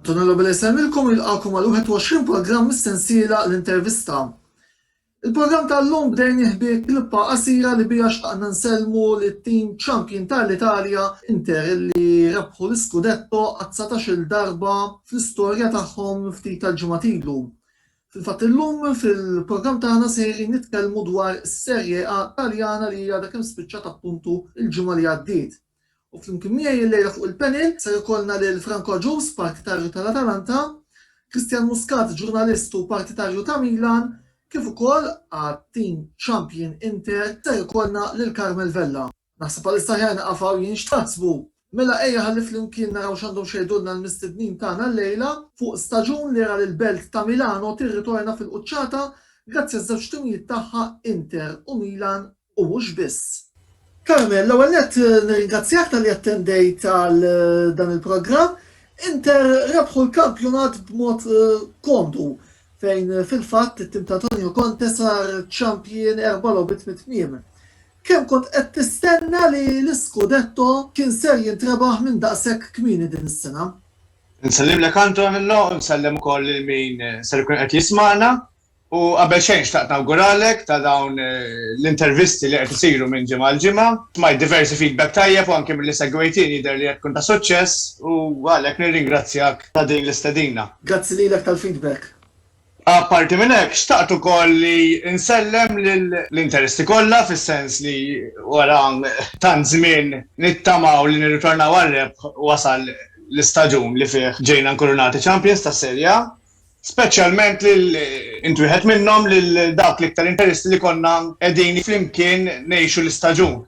Antonio Nobile jsellmilkom u jilqagħkom għal 21 programm mis-sensiela L-Intervista. Il-programm tal-lum bdejnieh bi klippa qasira li biha xtaqna nsellmu lit-tim champion tal-Italja, Inter, li rebħu l-iskudetto għat-dsatax-il darba fl-istorja tagħhom ftit tal-ġimgħat ilu. Fil-fatt illum fil-programm tagħna sejrin nitkellmu dwar is-Serie A Taljana li għadha kemm spiċċat appuntu l-ġimgħa li għaddiet. U flimkien miegħi illejla fuq il-panel ser ikollna lil Franco Agius, partitarju tal-Atalanta, Christian Muscat, ġurnalist u partitarju ta' Milan, kif ukoll għat-tim champion Inter ser ikollna lil Carmel Vella. Naħseb għalissa aħjar nieqaf hawn jien, x'taħsbu? Mela ejja ħalli flimkien naraw x'għandhom x'jgħidulna l-mistednin tagħna llejla fuq staġun li ra lill-belt ta' Milano tirritorna fil-quċċata grazzi għaż-żewġ timijiet tagħha Inter u Milan u mhux biss. Carmen, l-ewwel nett nirringrazzjak talli attendejt għal dan il-programm. Inter rebħu l-kampjonat b'mod komdu fejn fil-fatt it-tim ta' Antonio Conte sar champion erba' logħbiet mit-tmiem. Kemm kont qed tistenna li l-iskudetto kien ser jintrebaħ minn daqshekk kmieni din is-sena? Insellimlek Antonello u nsellem ukoll lil min ser ikun qed jismagħna. U qabel xejn xtaqt nawguralek ta' dawn l-intervisti li qed isiru minn ġimgħa għal ġimgħa. Smajt diversi feedback tajjeb u anke milli segwejtini jidher li qed tkun ta' suċċess u għalhekk nirringrazzjak ta' din l-istedina. Grazzi lilek tal-feedback. Apparti minn hekk, xtaqt ukoll li nsellem lill-interesti kollha fis-sens li wara tant żmien nittamaw li nirritornaw għar-rebħ wasal l-istaġun li fih ġejna nkurunati champions tas-Serie A Speċjalment lil int wieħed minnhom lil dawk l-iktar interisti li konna qegħdin flimkien ngħixu l-istaġun.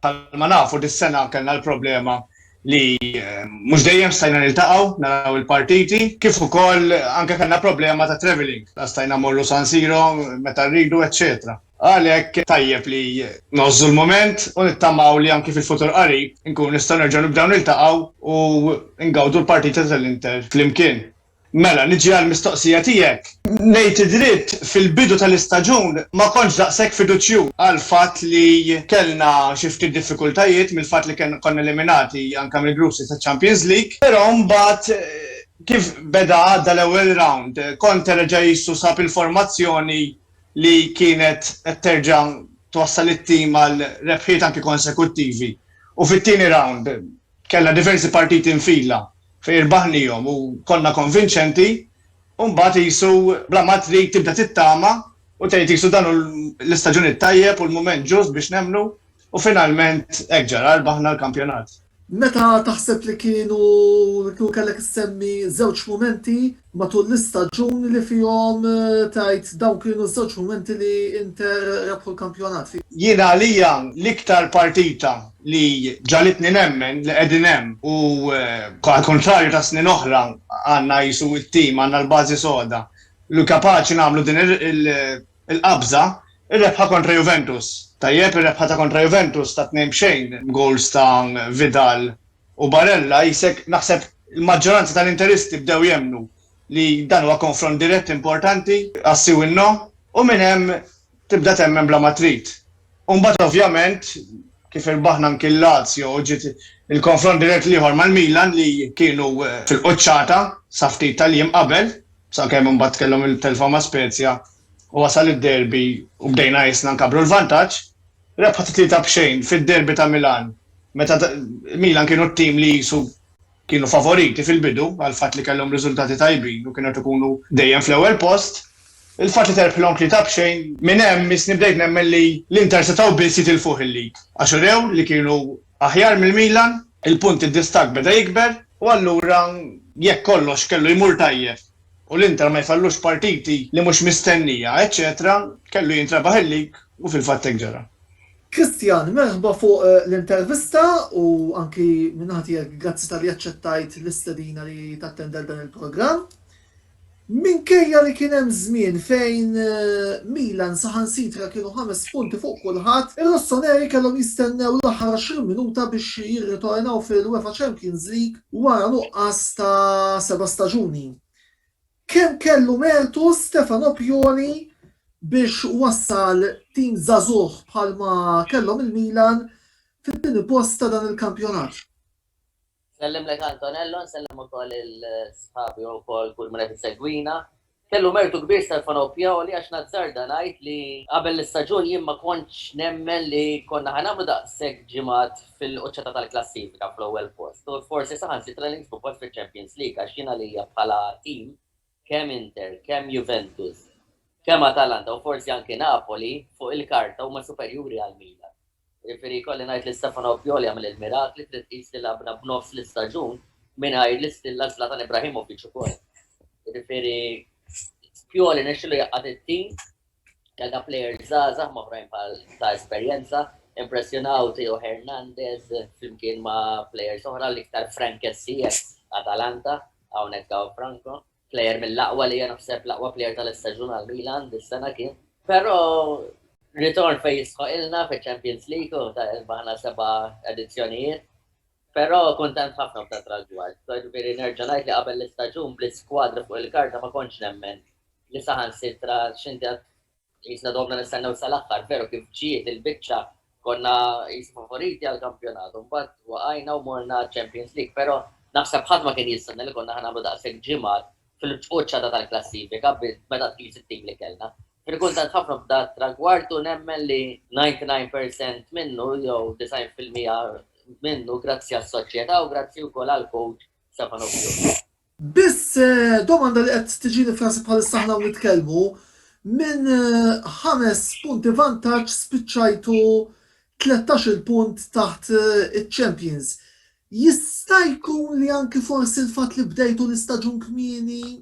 Bħalma nafu dis-sena kellna l-problema li eh, mhux dejjem stajna niltaqgħu naraw il-partiti, kif ukoll anke kellna problema ta' traveling, ta' stajna morru San Siro meta rridu, eċċetera. Għalhekk tajjeb li nożżu l-moment u nittamaw li anki fil-futur qarib nkun nistgħu nerġgħu nibdew niltaqgħu u ngawdu l-partita tal-Inter flimkien. Mela, niġi għall-mistoqsija tiegħek. Ngħid id-dritt, fil-bidu tal-istaġun ma kontx daqshekk fiduċjuż għall-fatt li kellna xi ftit diffikultajiet mill-fatt li konna eliminati anke mill-group stage taċ-Champions League. Però mbagħad kif beda għadda l-ewwel round, Conte reġa' qisu sab il-formazzjoni li kienet qed terġa' twassal it-tim għal rebħiet anke konsekuttivi. U fit-tieni round, Kellna diversi partiti nfila fejn irbaħnihom u konna konvinċenti u mbagħad qisu bla ma trid tibda tittama u tgħid qisu dan hu l-istaġun it-tajjeb u l-mument ġust biex nemmnu u finalment hekk ġara rbaħna l-kampjonat. Meta taħseb li kienu, kellek issemmi żewġ mumenti Matul l-istaġuni li fihom tgħid dawn kienu ż-żewġ mumenti li Inter rebħu l-kampjonat. Jien għalija l-iktar partita li ġagħlitni nemmen li qegħdin hemm u għal kuntrarju ta' snin oħra għandna qisu t-tim, għandna l-bażi soda li kapaċi nagħmlu din il-qabża, ir-rebħa kontra Juventus. Tajjeb, ir-rebħa ta' kontra Juventus ta' tnejn b'xejn b'gowls ta' Vidal U Barella, qisek, naħseb il-maġġoranza tal-Interisti bdew jemmnu li dan huwa konfront dirett importanti għas-si u n-no, u minn hemm tibda temmen bla ma trid. U mbagħad ovvjament, kif irbaħna anki l-Lazio u ġiet il-konfront dirett l-ieħor mal-Milan li kienu fil-quċċata sa ftit tal-jiem qabel, sakemm imbagħad kellhom il-telfa ma' Spezia u wasal id-derby u bdejna qisna nkabbru l-vantaġġ, Rebħet tlieta b'xejn fid-derby ta' Milan meta Milan kienu t-tim li qisu kienu favoriti fil-bidu għall-fatt li kellhom riżultati tajbin u kienu qed ikunu dejjem fl-ewwel post. Il-fatt li terbħilhom tlieta b'xejn minn hemm missni bdejt nemmen li l-Inter setgħu biss jitilfuh il-lead għax urew li kienu aħjar mill-Milan, il-punti distakk beda jikber u allura jekk kollox kellu jmur tajjeb u l-Inter ma jfallux partiti li mhux mistennija, eċċetera Kellu jintrebaħ il-lig u fil-fatt hekk ġara. Christian, merħba fuq l-intervista u anki minn naħa tiegħek grazzi talli aċċettajt l-istedina li tattend għal dan il-programm. Minkejja li kien hemm żmien fejn Milan saħansitra kienu ħames punti fuq kulħadd, ir-Rossoneri kellhom jistennew l-aħħar 20 minuta biex jirritornaw fil-UEFA Champions League Wara nuqqas ta' seba' staġuni, kemm kellu mertu Stefano Pioli biex wassal tim żagħżugħ bħalma kellhom il-Milan fit-tieni post ta' dan il-kampjonat? Nsellimlek Antonello, nsellem ukoll il-sħabi u wkoll kull min qed isegwina. Kellu mertu kbir Stefano Pioli għax nazzarda ngħid li qabel l-istaġun jien ma kontx nemmen li konna ħa nagħmlu daqshekk ġimgħat fil-quċċata tal-klassifika fl-ewwel post u forsi saħansitra li niksbu post fiċ-Champions League għax jien għalija bħala tim kemm Inter, kemm Juventus, kemm Atalanta u forsi anki Napoli fuq il-karta huma superjuri għal Milan. Jiġifieri jkolli ngħid li Stefano Pioli għamel il-mirakli, trid tqis li lagħabna b'nofs l-istaġun mingħajr l-istilla Zlatan Ibrahimovic ukoll. Jiġifieri Pioli nexxielu jgħaqqad it-tim, kellna plejers żgħażagħ m'oħrajn bħal ta' esperjenza, impressjonaw Theo Hernandez flimkien ma' plejers oħra l-iktar Frank Kessié, Atalanta, hawnhekk hawn Franco. Plejer mill-aqwa li jiena ħseb l-aqwa plejer tal-istaġun għal Milan dis-sena kien. Però ritorn fejn jistħoqilna fiċ-Champions League u ta' ilbaħna seba' edizzjonijiet. Però kuntent ħafna b'dan trażward. Jiġifieri nerġa' ngħid li qabel l-istaġun bl-iskwadra fuq il-karta ma kontx nemmen li saħansitra x'inti Qisna domna nistennew sal-aħħar, veru kif ġiet il-biċċa konna qis favoriti għall-kampjonat u mbagħad waqajna u morna għaċ-Champions League, però naħseb ħadd ma kien jistenna li konna ħa nagħmlu daqshekk ġimgħat fil-quċċata tal-klassifika meta tqis it-tim li kellna. Kien kuntent ħafna b'da tragward u nemmen li 99 percent minnu jew 90 fil-mija minnu grazzi għas-soċjetà u grazzi wkoll għall-coach Stefano Pioli. Biss, domanda li qed tiġini f'rasi bħalissa aħna hawn nitkellmu, minn ħames punti vantaġġ spiċċajtu tlettax-il punt taħt iċ-champions. Jista' jkun li anki forsi l-fatt li bdejtu l-istaġun kmieni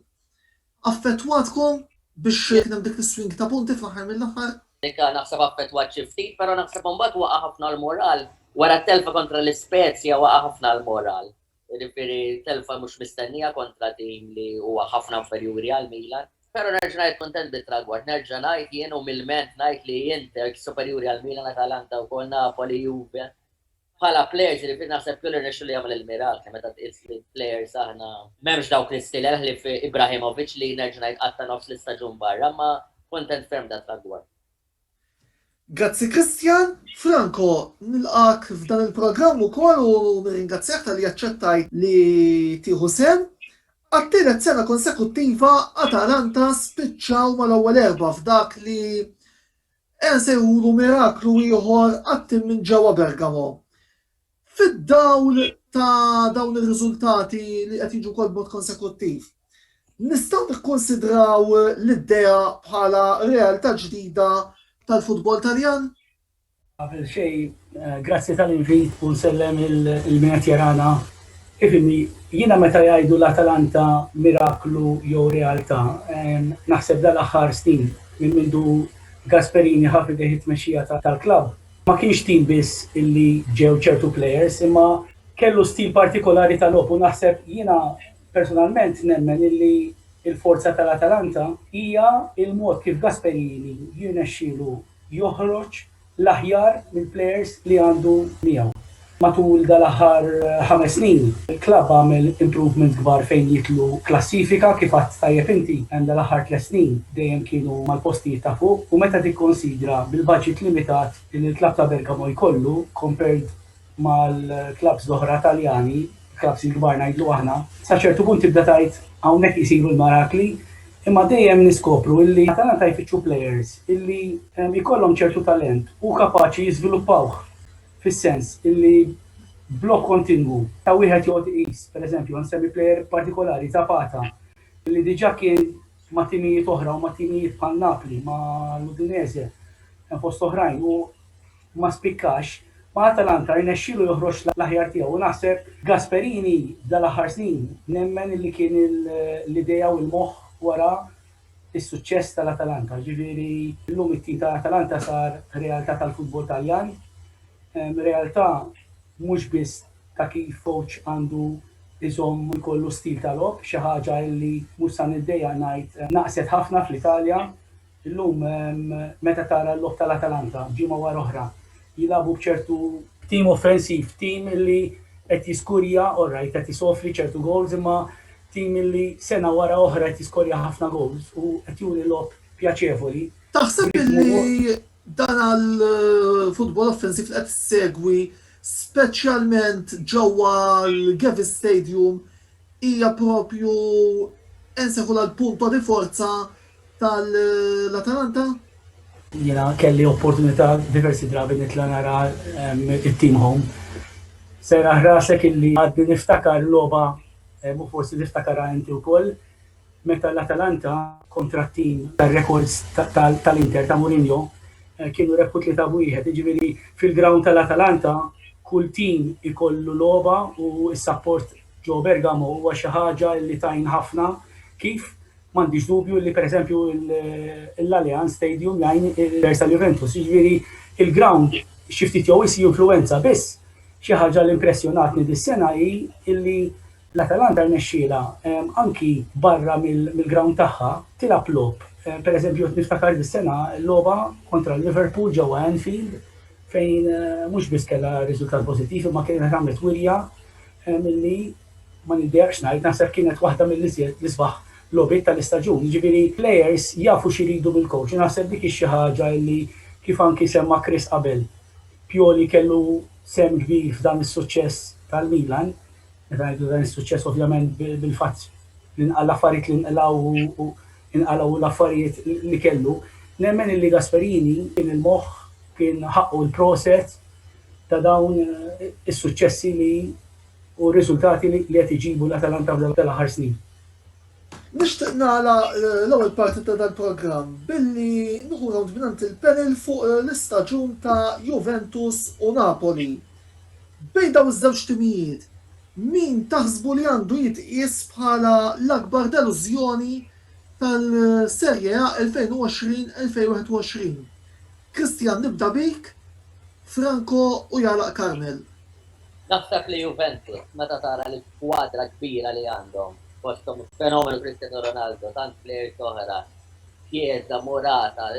affettwatkom biex kien hemm dik is-swing ta' punti fl-aħħar mill-aħħar? Nika, Naħseb affettwat xi ftit, però naħseb imbagħad waqa' ħafna l-moral. Wara t-telfa kontra l-Ispezja waqa' ħafna l-moral. Jiġifieri telfa mhux mistennija kontra tim li huwa ħafna inferjuri għal Milan. Però nerġa' ngħid kuntent bit-tragward. Nerġa' ngħid jien umilment ngħid li Inter superjuri għal Milan, Atalanta wkoll, Napoli, Juve. Bħala plejers jiġifieri naħseb Pioli rnexxielu jagħmel il-mirakli meta tqis li plejers aħna m'hemmx dawk l-istilel ħlief Ibrahimovic li nerġa' ngħid qatta' nofs l-istaġun barra imma kuntent ferm b'dat-tragward. Grazzi Christian. Franco, nilqgħek f'dan il-programm ukoll u nirringrazzjak talli aċċettajt li tieħu sehem. Għat-tielet sena konsekuttiva Atalanta spiċċaw mal-ewwel erbgħa f'dak li qiegħ nsejħulu miraklu ieħor għat-tim minn ġewwa Bergamo. Fid-dawl ta' dawn ir-riżultati li qed jiġu wkoll b'mod konsekuttiv, nistgħu nikkunsidraw l-idea bħala realtà ġdida tal-futbol Taljan? Qabel xejn, grazzi tal-invit u nsellem lil min qed jarana ifhimni, jiena meta jgħidu l-Atalanta miraklu jew realtà, naħseb dal-aħħar snin minn mindu Gasperini ħa f'idejh it-tmexxija tal-klabb, Ma kienx tim biss illi ġew ċertu players imma kellu stil partikolari ta' logħob u naħseb jiena personalment nemmen illi l-forza tal-Atalanta hija l-mod kif Gasperini jirnexxielu joħroġ l-aħjar mill-players li għandu miegħu. Matul dal-aħħar ħames snin, il-klabb għamel improvements kbar fejn jidħlu klassifika, kif għedt tajjeb inti, hemm dal-aħħar tliet snin dejjem kienu mal-postijiet ta' fuq u meta tikkonsidra bil-baġit limitat li l-klabb ta' Bergamo jkollu compared mal-klabbs l-oħra Taljani, klabbs il-kbar ngħidlu aħna, sa ċertu punt tibda tgħid hawnhekk isiru l-marakli imma dejjem niskopru illi Atalanta jfittxu players illi jkollhom ċertu talent u kapaċi jiżviluppawh. fis-sens illi blokk kontinwu ta' wieħed joqgħod iqis, pereżempju, ħa nsemmi plejer partikolari, Zapata, illi diġà kien ma' timijiet oħra u ma' timijiet bħal Napli, mal-Udinese, hemm fost oħrajn, u ma spikkax, ma' Atalanta rnexxielu joħroġ l-aħjar tiegħu u naħseb Gasperini f'dal-aħħar snin nemmen illi kien l-idea u l-moħħ wara fis-suċċess tal-Atalanta. Jiġifieri llum it-tim ta' Atalanta sar realtà tal-futbol Taljan, realtà mhux biss ta' kif kowċ għandu jżomm u jkollu stil ta' logħob, xi ħaġa illi mhux sa niddejjaq ngħid naqset ħafna fl-Italja. Illum meta tara l-logħob tal-Atalanta ġimgħa wara oħra jilagħbu b'ċertu b'tim offensiv, b'tim illi qed jiskurja, orrajt qed isofri ċertu gowls imma Tim li sena wara oħra qed jiskorja ħafna gowls u qed juri logħob pjaċevoli. Taħseb li dan għall-futbol offensiv li qed issegwi speċjalment ġewwa l-Gewiss Stadium hija propju insejħulha l-punto di forza tal-Atalanta? Jiena kelli opportunità diversi drabi nitla' nara it-team home. Serraħ rasek illi għadni niftakar logħba u forsi tiftakarha inti wkoll meta l-Atalanta kontra t-team tar-rekords tal-Inter ta' Mourinho kienu rebħu 3-1. Jiġifieri fil-ground tal-Atalanta kull team ikollu logħba u s-sapport ġewwa Bergamo huwa xi ħaġa li tgħin ħafna. Kif? M'għandix dubju li pereżempju l-Allianz Stadium jgħin il-players tal-Juventus, jiġifieri l-ground xi ftit jew wisq jinfluwenza biss. Xi ħaġa li impressjonatni dis-sena hi li l-Atalanta rnexxielha anki barra mill-ground tagħha tilgħab logħob. Pereżempju qed niftakar dis-sena logħba kontra l-Liverpool ġewwa Anfield fejn mhux biss kellha riżultat pożittiv imma kienet għamlet wirja milli ma nibbiegħekx ngħid, naħseb kienet waħda mill-iżjed l-isbaħ logħbiet tal-istaġun. Jiġifieri players jafu x'iridu mill-coach u naħseb dik hi xi ħaġa li kif anki semma Chris qabel, Pioli kellu sehem kbir f'dan is-suċċess tal-Milan. Meta ngħidu dan is-suċċess ovvjament bil-fatt li nqal l-affarijiet li nqlgħu u nqalgħu l-affarijiet li kellu. Nemmen illi Gasperini kien il-moħħ, kien ħaqqu l-proset ta' dawn is-suċċessi li u r-riżultati li qed iġibu l-Atalanta f'dawn tal-aħħar snin. Nixtieq nagħlaq l-ewwel parti ta' dal-programm billi nieħu nowt mingħand il-panel fuq l-istaġun ta' Juventus u Napoli. Bejn dawn iż-żewġ timijiet, min taħsbu li għandu jitqies bħala l-akbar delużjoni tal-Serie A 2020-2021? Christian nibda bik, Franco u jagħlaq Carmel. Naħseb li Juventus meta tara li l-skwadra kbira li għandhom, fosthom il-fenomenu Cristiano Ronaldo, tant plejers oħra, Chiesa, Morata,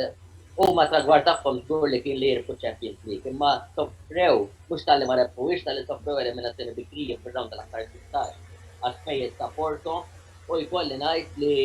huma t-tragward tagħhom żgur li kien li jirbħu ċ-Champions League, imma sofrew, mhux talli ma rebħuhiex, talli sofrew eliminazzjoni bikrija fir-rawnd tal-aħħar sittax għaspejjeż ta' Porto u jkolli ngħid li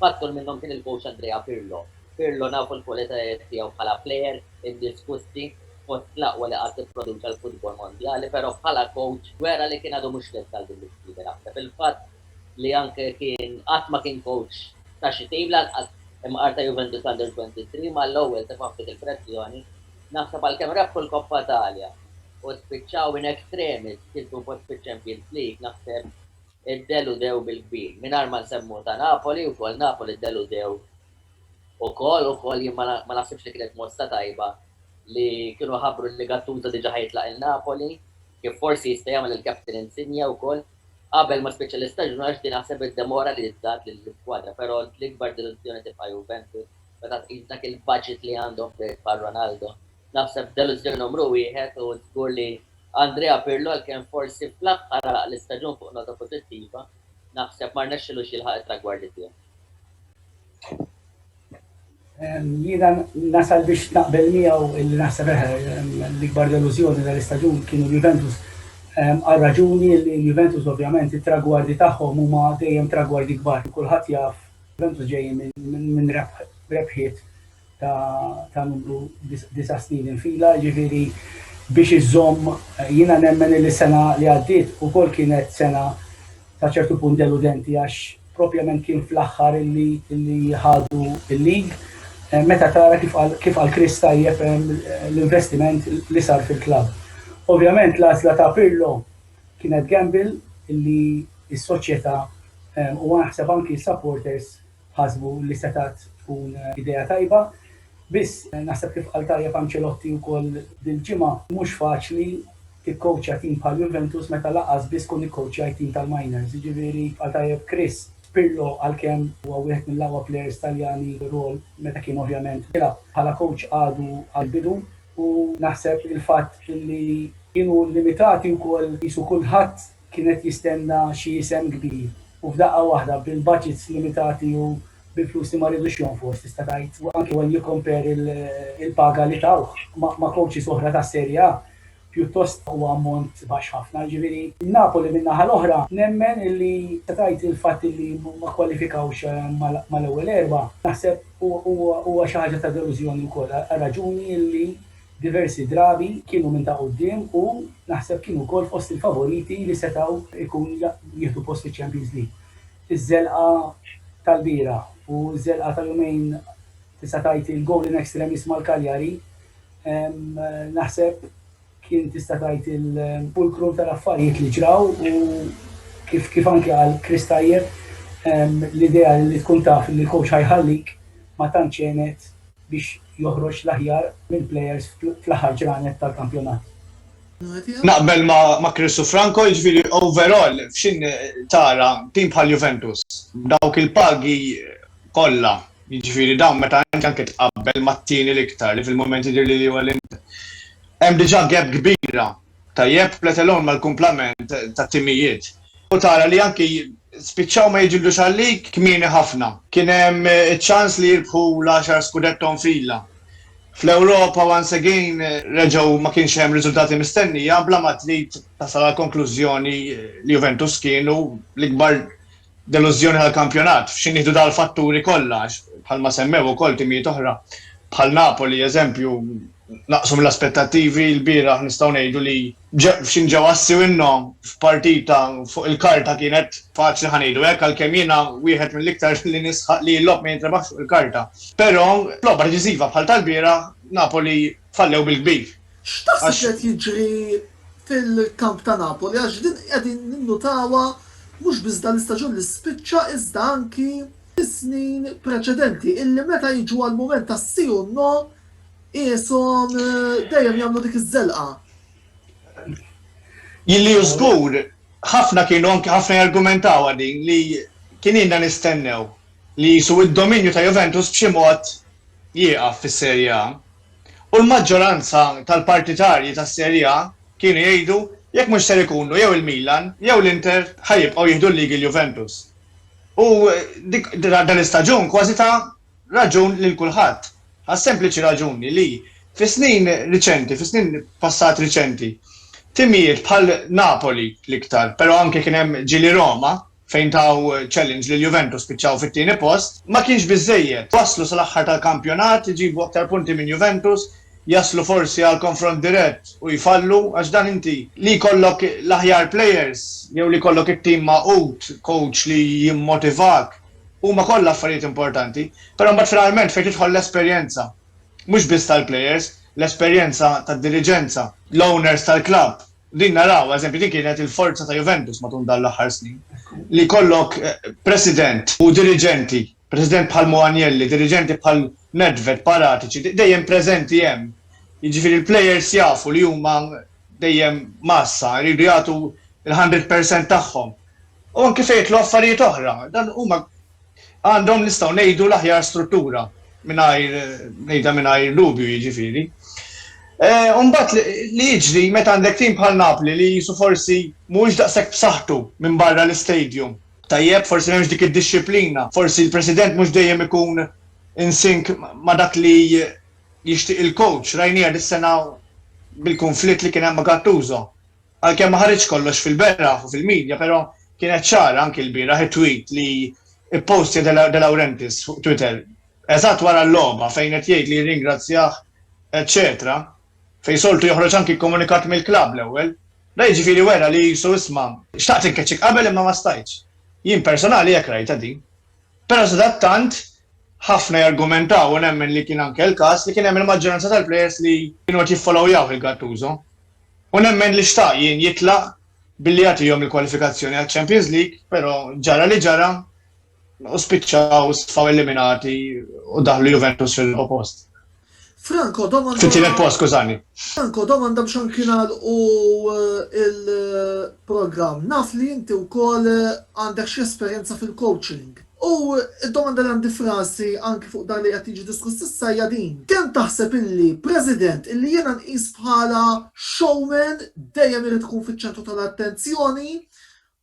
fattur minnhom kien il-coach Andrea Pirlo. Pirlo nafu l-kwalitajiet tiegħu bħala plejer, iddiskussi fost l-aqwa li qatt ipproduċa l-futbol mondjali, però bħala kowċ wera li kien għadu mhux lest għal din l-isfida. Naħseb il-fatt li anke kien qatt ma kien kowċ ta' xi tim, lanqas imqar ta' Juventus Under 23, mal-ewwel tefa' ftit il-pressjoni. Naħseb għalkemm rebħu l-Coppa Italia u spiċċaw in extremis kisbu post fiċ-Champions League, naħseb. iddeludew bil-kbir, mingħajr ma nsemmu ta' Napoli wkoll, Napoli ddeludew ukoll, ukoll jien ma naħsibx li kienet mossa tajba li kienu ħabbru li Gattuso diġà ħa jitlaq lil Napoli, kif forsi jista' jagħmel il-captain Insigne wkoll, qabel ma spiċċa l-istaġun għax din naħseb iddemoralizzat lill-iskwadra, però l-ikbar delużjoni tibqa' Juventus meta tqis dak il-budget li għandhom b'plejes bħal Ronaldo. Naħseb delużjoni numru wieħed u żgur li Andrea Pirlo għalkemm forsi fl-aħħar għalaq l-istaġun fuq nota pożittiva, naħseb ma rnexxilux jilħaq it-tragwardi tiegħu. Jiena nasal biex naqbel miegħu illi naħseb l-ikbar delużjoni tal-istaġun kienu l-Juventus għal raġuni illi l-Juventus ovvjament it-tragwardi tagħhom huma dejjem tragwardi kbar. Kulħadd jaf Juventus ġejjin minn rebħiet ta' numru disa' snin il-fila, jiġifieri biex iżżomm, jiena nemmen illi s-sena li għaddiet ukoll kienet sena sa ċertu punt deludenti għax propjament kien fl-aħħar illi ħadu l-lig, meta tara kif qal kif qal Chris tajjeb l-investiment li sar fil-klabb. Ovvjament l-għażla ta' Pirlo kienet gamble illi s-soċjetà u naħseb anki s-supporters, Ħasbu li setgħet tkun idea tajba, biss naħseb kif qal tajjeb Ancelotti wkoll dil-ġimgħa, mhux faċli tikkowċja tim bħal Juventus meta lanqas biss tkun ikkowċjajt tim tal-minors. Jiġifieri qal tajjeb Chris, Pirlo għalkemm huwa wieħed mill-aqwa plejers Taljani fir-rwol meta kien ovvjament jilgħab bħala kowċ għadu għall-bidu u naħseb il-fatt li kienu limitati wkoll qisu kulħadd, kien qed jistenna xi isem kbir u f'daqqa waħda bil-budgets limitati u bil-flus li ma ridux jonfoq tista' tgħid u anki when you compare il-paga li tawh ma' coaches oħra tas-Serie A pjuttost huwa ammont baxx ħafna. Jiġifieri Napoli min-naħa l-oħra nemmen illi tista' tgħid il-fatt illi ma kkwalifikawx mal-ewwel erbgħa naħseb huwa xi ħaġa ta' delużjoni wkoll għar-raġuni illi Diversi drabi kienu minn ta' quddiem u naħseb kienu wkoll fost il-favoriti li setgħu jkun jieħdu post fiċ-Champions League. Iż-żelqa tal-bieraħ u ż-żelqa ta' jumejn tista' tgħid il-goal in extremis mal-Cagliari naħseb kien tista' tgħid il-fulcrum tal-affarijiet li ġraw u kif kif anke qal Chris tajjeb l-idea li tkun taf li l-coach ħa jħallik ma tantx għenet biex joħroġ l-aħjar mill-plejers fl-aħħar ġranet tal-kampjonat. Naqbel ma' Chris u Franco, jiġifieri overall f'x'inhi tara tim bħal Juventus b'dawk il-pagi kollha, jiġifieri dawn meta inti anke tqabbel mat-tieni l-iktar li fil-mument jidhirli li huwa l-Inter, hemm diġà gap kbira tajjeb, let alone mal-kumplament tat-timijiet. U tara li anki spiċċaw ma jiġildux għalik kmieni ħafna. Kien hemm iċ-ċans li jirbħu l-għaxar Scudetto nfila. Fl-Ewropa once again reġgħu ma kienx hemm riżultati mistennija bla ma trid tasal għall-konklużjoni li Juventus kienu l-ikbar delużjoni tal-kampjonat. F'xi nieħdu dal-fatturi kollha għax bħalma semmew ukoll timijiet oħra bħal Napoli eżempju naqsu mill-aspettattivi lbieraħ nistgħu ngħidu li f'xi ġew assi minnha f'partita fuq il-karta kienet faċli ħa ngħidu hekk għalkemm jiena wieħed mill-iktar li nisħaq li l-logħob ma jintrebaħx fuq il-karta. Però f'logħba deċiżiva bħal tal-bieraħ Napoli fallew bil-kbir. X'taħseb li qed jiġri fil-kamp ta' Napoli għax din qegħdin ninnutawha mhux biss dan l-istaġun li spiċċa iżda anki fis-snin preċedenti illi meta jiġu għall-mument tas-si u n-no Qishom dejjem jagħmlu dik iż-żelqa. Jilli żgur ħafna kienu anke ħafna jargumentaw din li kien inna nistennew li jisu id-dominju ta' Juventus b'xi mod jieqaf fis-Serie A. U l-maġġoranza tal-partitarji tas-Serie A kienu jgħidu jekk mhux ser ikunu jew il-Milan jew l-Inter ħa jibqgħu jieħdu l-ligi l-Juventus. U dan l-istaġun kważi ta' raġun lil kulħadd, għas-sempliċi raġuni li fis-snin riċenti, fis-snin passat riċenti, timijiet bħal Napoli l-iktar, però anke kien hemm ġieli Roma fejn taw challenge lil Juventus spiċċaw fit-tieni post, ma kienx biżżejjed. Waslu sal-aħħar tal-kampjonat, iġibu aktar punti minn Juventus, jaslu forsi għal konfront dirett u jfallu, għax dan inti li jkollok l-aħjar players jew li jkollok it-tim magħqud, coach li jimmotivak, huma kollha affarijiet importanti, però mbagħad finalment fejn tidħol l-esperjenza, mhux biss tal-plejers, l-esperjenza tad-diriġenza, l-owners tal-klabb, din naraw, eżempju din kienet il-forza ta' Juventus matul dawn l-aħħar snin, li jkollok president u diriġenti, president bħal Mo Agnelli, diriġenti bħal Nedved, Paratici, dejjem preżenti hemm. Jiġifieri l-plejers jafu li huma dejjem mgħassa, iridu jagħtu l-hundred percent tagħhom. u anki fejn jitlu affarijiet oħra. Dan huma għandhom nistgħu ngħidu l-aħjar struttura mingħajr ngħidha mingħajr dubju jiġifieri. Eh, Umbat li jiġri meta għandek tim bħal Napli li jisu forsi mhuwiex daqshekk b'saħħtu minn barra l-istadium. Tajjeb, forsi m'hemmx dik id-dixxiplina, forsi l-President mhux dejjem ikun insink ma' dak li jixtieq il-coach, rajnija dis-sena bil-konflitt li kien hemm ma' Gattuso. Għalkemm ma ħareġx kollox fil-beraħ u fil-media però kienet ċara anki l-bieraħ it-tweet li ppostja De Laurentiis fuq Twitter eżatt wara l-logħba fejn qed jgħid li jirringrazzjah eċċetera fejn soltu joħroġ anki komunikat mill-klabb l-ewwel. Da jiġifieri wera li qisu isma' xtaqt inkeċċik qabel imma ma stajtx. Jien personali hekk rajtha din. Però sadattant ħafna jargumentaw u nemmen li kien anke l-każ li kien hemm il-maġġoranza tal-players li kienu qed jiffollowyawh il-Gattuso. U nemmen li xtaq jien jitlaq billi jagħtihom il-kwalifikazzjoni għaċ-Champions League, però ġara li ġara u spiċċaw stfaw eliminati u daħlu Juventus fir-raba' post. Franco, domanda. Fit-tielet post, skużani. Franco, domanda biex anki nagħlqu l-programm. Naf li inti wkoll għandek xi esperjenza fil-coaching. U d-domanda li għandi f'rasi anki fuq dan li qed jiġi diskuss issa hija din, kemm taħseb illi President illi jiena nqis bħala showman dejjem irid ikun fiċ-ċentru tal-attenzjoni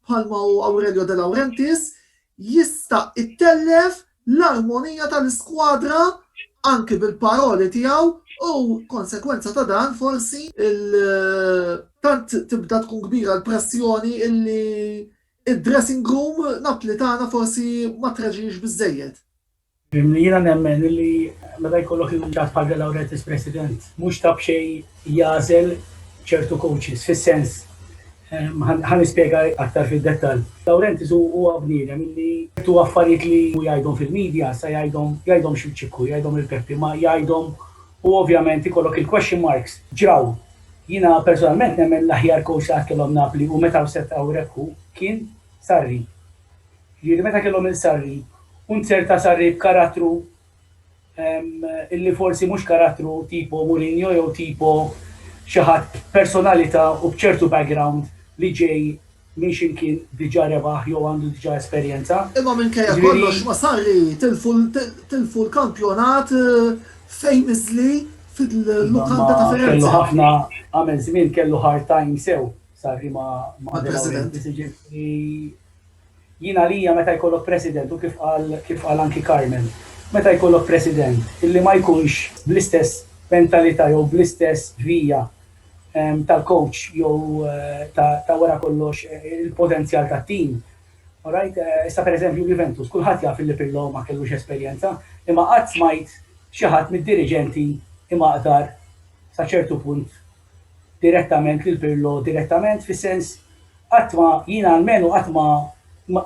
bħalma hu Aurelio De Laurentiis jista' itellef l-armonija tal-iskwadra anki bil-paroli tiegħu u konsegwenza ta' dan forsi tant tibda tkun kbira l-pressjoni illi Id-dressing room Napli tagħna forsi ma traġiex biżżejjed. Jiena nemmen illi meta jkollok lil unità bħal De Laurentiis President, mhux ta' b'xejn jagħżel ċertu coaches, fis-sens, ħa nispjega aktar fid-dettall. De Laurentiis huwa bniedem illi ċertu affarijiet li hu jgħidhom fil-media sa jgħidhom, jgħidhomx lil Ċikku, jgħidhom lil Peppi, ma jgħidhom U ovvjament ikollok il-question marks, ġraw. Jiena personalment nemmen l-aħjar coach li qatt kellhom Napli u meta wsed hawnhekk hu kien Sarri. Jiġifieri meta kellhom lil Sarri u nzerta Sarri b'karattru illi forsi mhux karattru tipo Mourinho jew tipo xi ħadd b'personalità u b'ċertu background li ġej Min xi mkien diġà rebaħ jew għandu diġà esperjenza. Imma minkejja kollox ma' Sarri tilfu l-kampjonat famously fil-lukanda ta' Firenze. Kellu ħafna, għamel żmien kellu hard time sew Sarri ma' De Laurentiis, jiġifieri jien għalija meta jkollok president u kif qal kif qal anki Carmen, meta jkollok president illi ma jkunx bl-istess mentalità jew bl-istess vija tal-coach jew ta' wara kollox il-potenzjal tat-tim. Alright, issa per eżempju l-Juventus, kulħadd jaf illi Pirlo ma kellux esperjenza, imma qatt smajt xi ħadd mid-diriġenti imaqdar sa ċertu punt direttament lil Pirlo direttament fis-sens qatt ma, jiena almenu qatt ma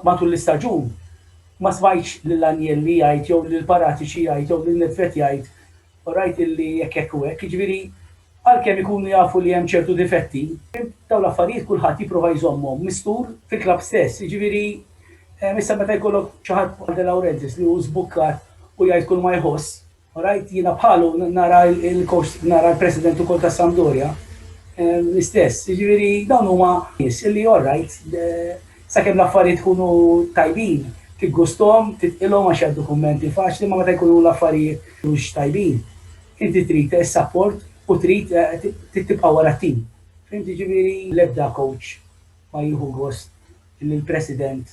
matul l-istaġun ma smajtx lil Agnelli jgħid jew lil Paratici jgħid jew lil Nedved jgħid, u rajt illi hekk hekk u hekk, jiġifieri għalkemm ikunu jafu li hemm ċertu difetti, dawn l-affarijiet kulħadd jipprova jżommhom mistur fil-klabb stess, jiġifieri issa meta jkollok xi ħadd bħal De Laurentiis li hu żbukkat u jgħid kulma jħoss, u rajt jiena bħalu nara l-coach, nara l-president ukoll tas-Sampdoria l-istess, jiġifieri dawn huma nies illi all right, Sakemm l-affarijiet ikunu tajbin, tiggusthom, titqilhom għax jgħaddu kummenti faċli imma meta jkunu l-affarijiet mhux tajbin, inti trid is-sapport u trid tibqa' wara t-tim. Fhimt jiġifieri? L-ebda kowċ ma jieħu gost li l-president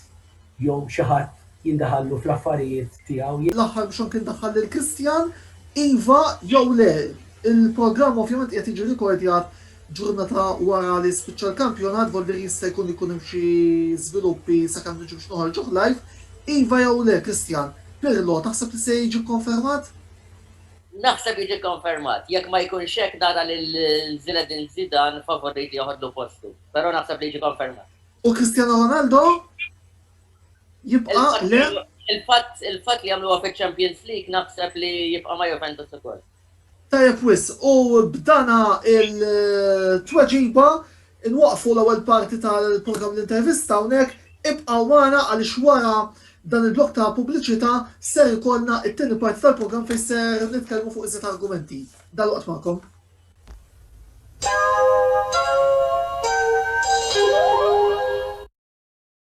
jew xi ħadd jindaħallu fl-affarijiet tiegħu. L-aħħar biex anki ndaħħal lil Christian, iva jew le, il-programm ovvjament qiegħed jiġi rikordjat Ġurnata wara li spiċċa l-kampjonat, Volder jista' jkun ikun hemm xi żviluppi sakemm niġu biex noħorġuh live. Iva jew le, Christian, Pirlo taħseb li se jiġi kkonfermat? Naħseb jiġi kkonfermat. Jekk ma jkunx hekk nara lil Zinedine Zidane favorit li joħodlu postu. Però naħseb li jiġi kkonfermat. U Cristiano Ronaldo? Jibqa', le? Il-fatt li għamluha fiċ-Champions League naħseb li jibqa' ma' Juventus ukoll. Tajjeb wisq, u b'dana il-tweġiba nwaqqfu l-ewwel parti tal-programm L-Intervista hawnhekk, ibqgħu magħna għaliex wara dan il-blokk ta' pubbliċità ser ikollna t-tieni parti tal-programm fejn ser nitkellmu fuq iżjed argumenti. Dalwaqt magħkom.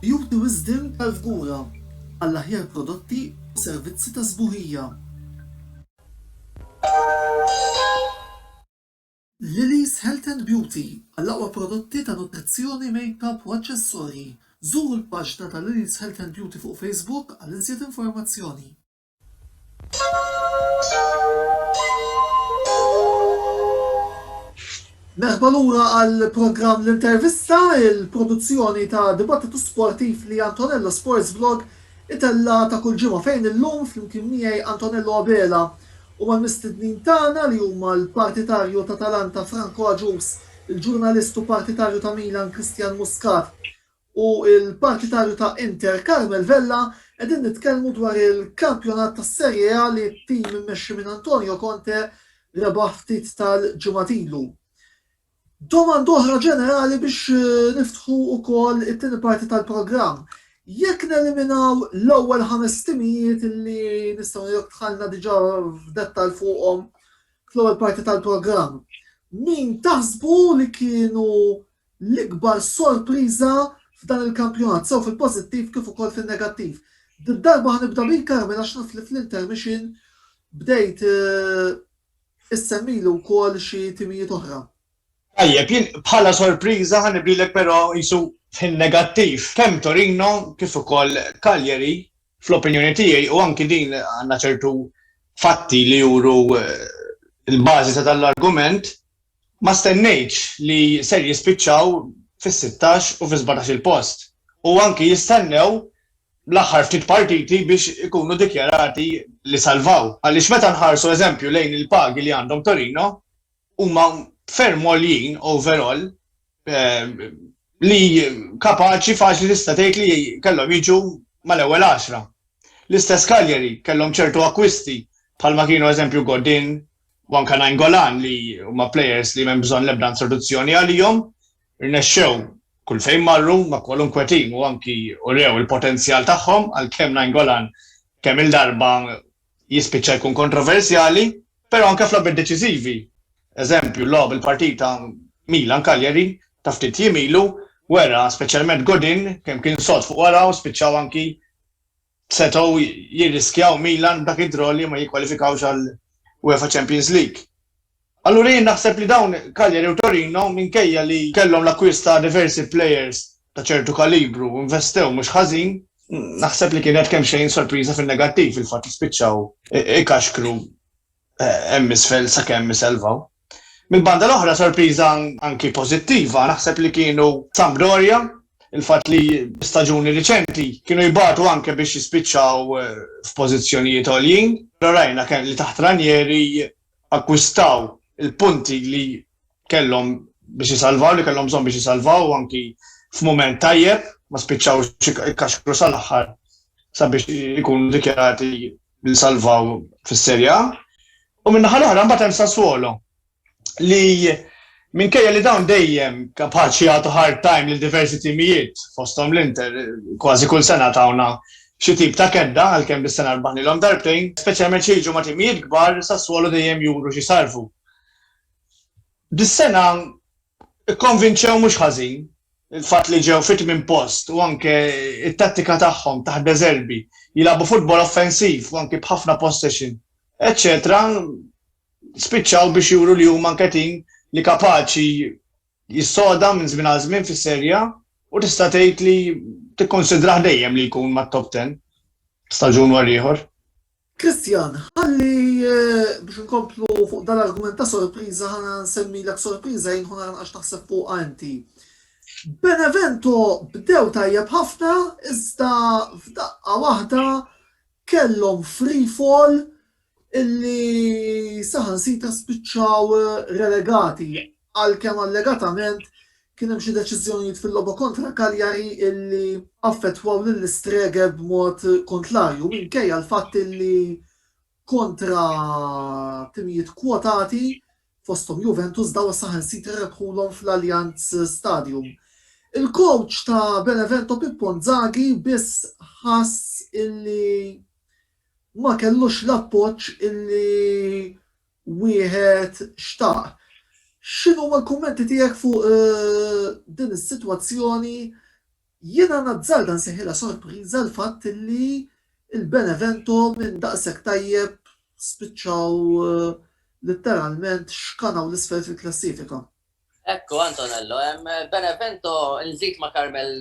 Juri wisdem tal-fgura għall-aħjar prodotti u servizzi ta' sbuħija. Lily's Health and Beauty għall-aqwa prodotti ta' nutrizzjoni, makeup u aċċessorji. Żuru l-paġna ta' Lily's Health and Beauty fuq Facebook għal iżjed informazzjoni. Merħba lura għall-programm L-Intervista, il-produzzjoni ta' dibattitu sportiv li Antonello Sports Vlog itella' ta' kull ġimgħa fejn illum flimkien miegħi Antonello Abela u mal-mistednin tagħna li huma l-partitarju t'Atalanta Franco Agius, il-ġurnalist u partitarju ta' Milan Christian Muscat u l-partitarju ta' Inter Carmel Vella, qegħdin nitkellmu dwar il-kampjonat tas-Serie A li t-tim immexxi minn Antonio Conte rebaħ ftit tal-ġimgħat ilu. Domanda oħra ġenerali biex niftħu wkoll it-tieni parti tal-programm. Jekk neliminaw l-ewwel ħames timijiet li nistgħu ngħidu dħalna diġà f'dettall fuqhom fl-ewwel parti tal-programm, min taħsbu li kienu l-ikbar sorpriża f'dan il-kampjonat, sew fil-pożittiv kif ukoll fin-negattiv. Did-darba ħa nibda bik Carmel għax naf li fl-intermission bdejt issemmili wkoll xi timijiet oħra. Tajjeb, jien bħala sorpriża ħa nibdilek però qisu fin-negattiv. Kemm Torino kif ukoll Cagliari fl-opinjoni tiegħi u anki din għandna ċertu fatti li juru l-bażi ta' dan l-argument, ma stennejtx li ser jispiċċaw fis-sittax u fis-sbatax-il post u anki jistennew l-aħħar ftit partiti biex ikunu dikjarati li salvaw. Għaliex meta nħarsu eżempju lejn il-pagi li għandhom Torino huma ferm għoljin overall li kapaċi faċli tista' tgħid li kellhom jiġu mal-ewwel għaxra. L-istess Cagliari kellhom ċertu akkwisti bħalma kienu eżempju Godin u anke Nainggolan li huma plejers li m'hemm bżonn l-ebda introduzzjoni għalihom, rnexxew kull fejn marru ma' kwalunkwe tim u anki urew il-potenzjal tagħhom għalkemm Nainggolan kemm-il darba jispiċċa jkun kontroversjali, però anke f'logħbiet deċiżivi. Eżempju, logħob il-partita Milan-Cagliari ta' ftit jiem ilu wera, speċjalment Godin, kemm kien sod fuq wara u spiċċaw anki setgħu jirriskjaw Milan b'dak id-draw li ma jikkwalifikawx għall-UEFA Champions League. Allura jien naħseb li dawn Cagliari u Torino minkejja li kellhom l-akkwist ta' diversi plejers ta' ċertu kalibru u investew mhux ħażin, naħseb li kienet kemxejn sorpriża fin-negattiv fil-fatt li spiċċaw ikaxkru hemm isfel sakemm iselvaw. Mill-banda l-oħra sorpriża anki pożittiva naħseb li kienu Sampdoria, il-fatt li staġuni riċenti kienu jbatu anke biex jispiċċaw f'pożizzjonijiet għoljin, però rajna li taħt Ranieri akkwistaw il-punti li kellhom biex isalvaw, li kellhom bżonn biex isalvaw anki f'mument tajjeb, ma spiċċawx ikkaxkru sal-aħħar sabiex ikunu dikjarati li salvaw fis-Serja. U min-naħa l-oħra mbagħad hemm Sassuolo li Minkejja li dawn dejjem ta' b'ħadd jagħtu hard time lil diversi timijiet, fosthom l-Inter, kważi kull sena tawna xi tip ta' kedda għalkemm dis-sena rbaħnilhom darbtejn, speċjalment xi jiġu ma' timijiet kbar, Sassuolo dejjem juru xi sarfu. Dis-sena kkonvinċew mhux ħażin, il-fatt li ġew fit-tmien post u anke t-tattika tagħhom taħt De Zerbi, jilagħbu futbol offensiv u anke b'ħafna possession, eċċetera spiċċaw biex juru li huma nketin li kapaċi jissoda minn żmien għal żmien fis-Serie A u tista' tgħid li tikkunsidrah dejjem li jkun mat-top ten staġun wara ieħor. Christian, ħalli biex inkomplu fuq dan l-argument ta' sorpriża ħa nsemmilek sorpriża jien ħu nara naqax taħseb fuqha inti. Benevento bdew tajjeb ħafna iżda f'daqqa waħda kellhom free fall illi saħansitra spiċċaw relegati għalkemm allegatament kien hemm xi deċiżjonijiet fil-logħba kontra Cagliari illi affettwaw lill-Istreghe b'mod kontlarju minkejja l-fatt illi kontra timijiet kwotati fosthom Juventus dawn saħansitra rebħulhom fl-Allianz Stadium. Il-kowċ ta' Benevento Pippo Inzaghi biss ħass illi ma kellux l-appoġġ li wieħed xtaq. X'inhuma l-kummenti tiegħek fuq din is-sitwazzjoni? Jiena nazzarda nsejħilha sorpriża l-fatt li l-Benevento minn daqshekk tajjeb spiċċaw litteralment xkanaw 'l isfel fil-klassifika. Hekk hu Antonello, hemm Benevento nżid ma' Carmel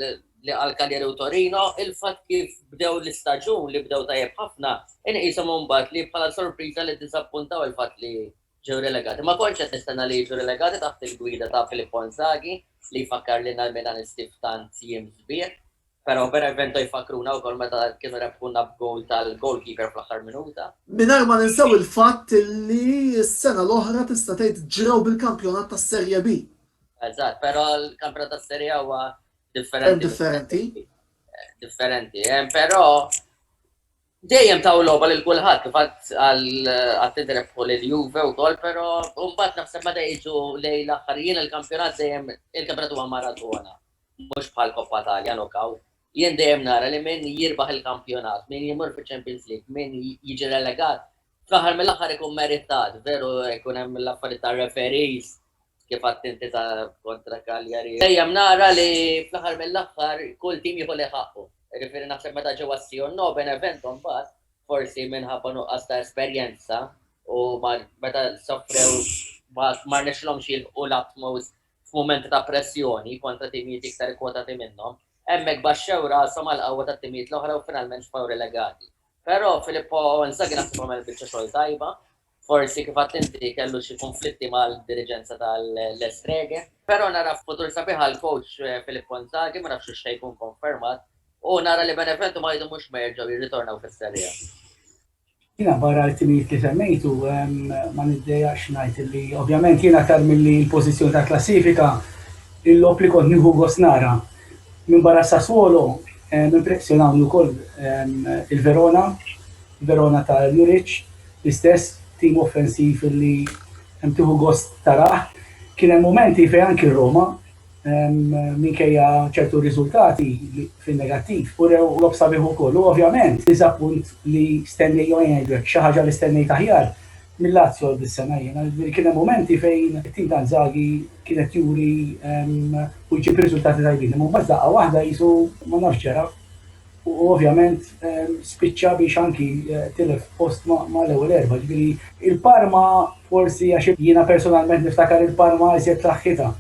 li qal Cagliari u Torino, il-fatt kif bdew l-istaġun li bdew tajjeb ħafna inqishom imbagħad li bħala sorpriża li ddiżappuntaw il-fatt li ġew relegati. Ma kontx qed nistenna li jiġu relegati taħt il-gwida ta' Filippo Inzaghi li jfakkarlilna l-Milanisti f'tant jiem sbieħ. Pero Benevento jfakruna wkoll meta kienu rebħuna b'gowl tal-goalkeeper fl-aħħar minuta. Mingħajr ma ninsew il-fatt li s-sena l-oħra tista' tgħid ġrew bil-kampjonat tas-Serie B. Eżatt, pero l-kampjonat tas-Serie A huwa differenti. Hemm differenti. Differenti, pero Dejjem taw logħba lil kulħadd kif għad għad nitrebħu lil Juve wkoll pero mbagħad naħseb meta jiġu lejn l-aħħar jien il-kampjonat dejjem il-kampjonat huwa maratona mhux bħal Coppa Talja Knockout jien dejjem nara li min jirbaħ il-kampjonat min jmur fiċ-Champions League min jiġi relegat Fl-aħħar mill-aħħar ikun meritat, veru ikun hemm l-affarijiet ta' referees kif għadt inti ta' kontra Cagliari. Dejjem nara li fl-aħħar mill-aħħar kull tim jieħu li ħaqqu. Jiġifieri naħseb meta ġew għas-Sion No Benevento mbagħad forsi minħabba nuqqas ta' esperjenza u meta soffrew ma rnexxilhomx jilħqu l-utmost f'mumenti ta' pressjoni kontra timijiet iktar ikkwotati minnhom, hemmhekk baxxew rashom għall-qawwa tat-timijiet l-oħra u finalment sfaw relegati. Però Filippo Inzaghi naħseb għamel biċċa xogħol tajba, forsi kif għadt inti kellu xi konflitti mal-diriġenza tal-Estrege, però nara futur sabiħ għal coach eh, Filippo Inzaghi, ma nafx xejn jkun konfermat, u nara li Benevento ma jdu mhux merġgħu jirritornaw fis-serija. Jina barra l-timijiet li semmejtu, ma niddeja xnajt li ovvjament jina tar mill-li l-pozizjoni ta' klassifika il-lop li kont nieħu gosnara. Minbarra s-Sassuolo, impressjonawni wkoll il-Verona, Verona ta' Juric, l-istess tim offensiv li tieħu gost tarah. Kien hemm mumenti fejn anki r-Roma, minkejja ċertu riżultati fin-negattiv, urew logħob sabiħ ukoll u ovvjament diżappunt li stennejt, jew ngħidlek, xi ħaġa li stennejt aħjar. Mill-Lazio dis-sena jiena, jiġifieri kien hemm mumenti fejn it-tim ta' Inzaghi kien qed juri u jġib riżultati tajbin, imma mbagħad f'daqqa waħda qisu ma nafx ġara u ovvjament spiċċa biex anki tilef post mal-ewwel erbgħa, jiġifieri il-Parma forsi għax jiena personalment niftakar il-Parma iżjed f'saħħitha,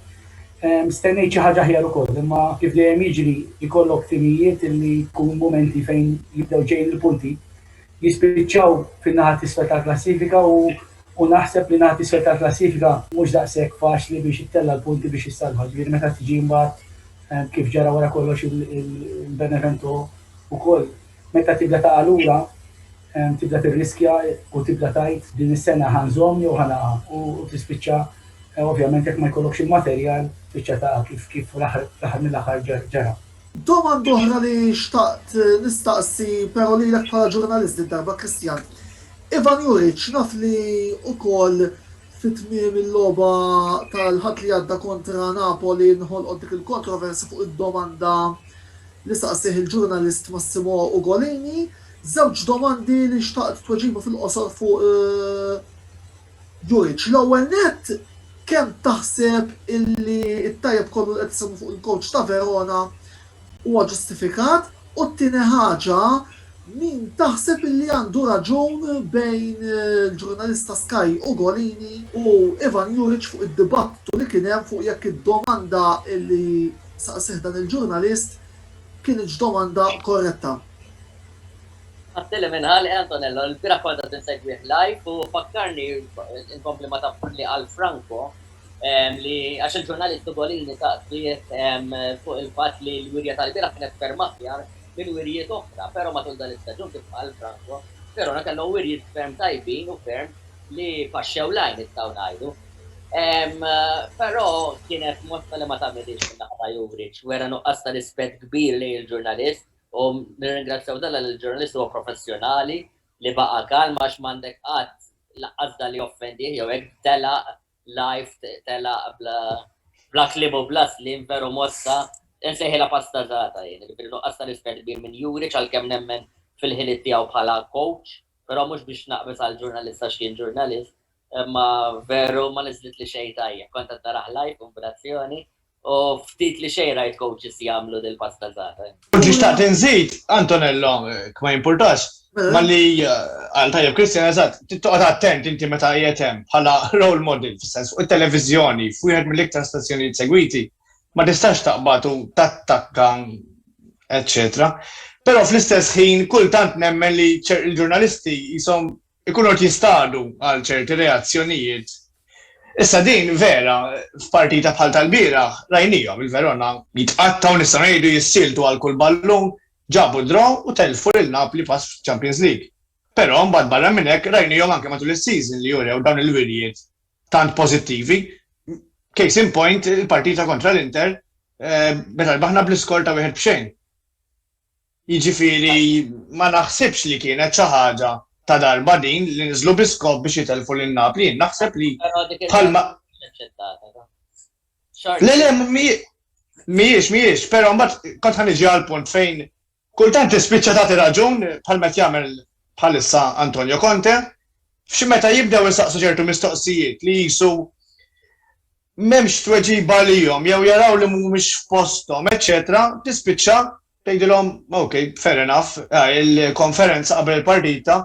stennejt xi ħaġa aħjar ukoll, imma kif dejjem jiġri jkollok timijiet li jkun mumenti fejn jibdew ġejjin il-punti, jispiċċaw fin-naħa t'isfel tal-klassifika u u naħseb li naħa t'isfel tal-klassifika mhux daqshekk faċli biex ittella' l-punti biex issalva, ġifieri meta tiġi mbagħad eh, kif ġara wara kollox il-Benevento ukoll meta tibda taqa' lura tibda tirriskja u tibda tajt din is-sena ħanżom jew ħanaqa u tispiċċa eh, ovvjament jekk ma jkollokx il-materjal tispiċċa ta' kif kif l-aħħar mill-aħħar ġara. Domanda oħra li xtaqt nistaqsi pero lilek bħala ġurnalist din darba Christian. Ivan Juric naf li ukoll fi tmiem il-logħba tal-Ħadd li għadda kontra Napoli nħolqot dik il-kontroversi fuq id-domanda li saqsih il-ġurnalist Massimo Ugolini. Żewġ domandi li xtaqt tweġiba fil-qosor fuq Jurriċ, L-ewwel nett, kemm taħseb illi t-tajjeb kollu li qed isemmu fuq il-kowċ ta' Verona huwa ġustifikat? U t-tieni ħaġa, min taħseb illi għandu raġun bejn il-ġurnalista Sky Ugolini u Ivan Juriċ fuq id-dibattitu li kien hemm fuq jekk id-domanda illi saqsieh dan il-ġurnalist kinitx domanda korretta? Tbagħtilhi minn Ħal Ħe Antonello, ilbieraħ kont qed insegwih live u fakkarni, inkompli ma taf li qal Franco, li għax il-ġurnalist Ugolini saqsieh fuq il-fatt li l-wirja tal-bieraħ kienet ferm aħjar minn wirjiet oħra, però matul dan l-istaġun kif qal Franco, Verona kellhom wirjiet ferm tajbin u ferm li paxxew l-għajn nistgħu ngħidu. Però kienet mossa li ma tagħmilhiex min-naħa ta' Juric, wera nuqqas ta' rispett kbir lejn il-ġurnalist. U nirringrazzjaw dan għaliex il-ġurnalist huwa professjonali li baqa' kalm għax m'għandek qatt laqqas dan li joffendih jew hekk telaq live telaq bla kliem u bla sliem veru mossa insejħilha pastażata jien, jiġifieri nuqqas ta' rispett kbir minn Juric għalkemm nemmen fil-ħiliet tiegħu bħala coach, però mhux biex naqbeż għall-ġurnalist għax kien ġurnalist, Imma veru ma niżlitlix xejn tajjeb. Kont qed narah live u b'razzjoni u ftit li xejn rajt coaches jagħmlu dil-pasta żgħażagħ. Ġiet xtaqt inżid, Antonello, jekk ma jimpurtax, malli qal tajjeb Christian, eżatt, trid toqgħod attent inti meta qiegħed hemm bħala role model, fis-sens fuq it-televiżjoni, f'wieħed mill-iktar stazzjonijiet segwiti, ma tistax taqbad u tattakka eċċetera. Però fl-istess ħin kultant nemmen li ċ-ġurnalisti qishom ikunu qed jistadu għal ċerti reazzjonijiet. Issa din vera f'partita bħal tal-bieraħ rajniehom il-Verona jitqattgħu nistgħu ngħidu jissieltu għal kull ballun, ġabu d-draw u tellfu lil Napli pass f'Champions League. Però mbagħad barra minn hekk rajniehom anke matul is-season li urew dawn il-wirjiet tant pożittivi. Case in point il-partita kontra l-Inter meta rbaħna bl-iskor ta' wieħed b'xejn. Jiġifieri ma naħsibx li kienet xi ħaġa ta' darba din li niżlu bi skop biex jitellfu lil Napli, jien naħseb li bħalma. Le le mhijiex mhijiex, però mbagħad kont ħa niġi għall-punt fejn kultant tispiċċa tagħti raġun bħal meta jagħmel bħalissa Antonio Conte, f'xi meta jibdew insaqsu ċertu mistoqsijiet li jisu m'hemmx tweġiba għalihom jew jaraw li mhumiex f'posthom eċċetera tispiċċa tgħidilhom ok fair enough il-konferenza qabel il-partita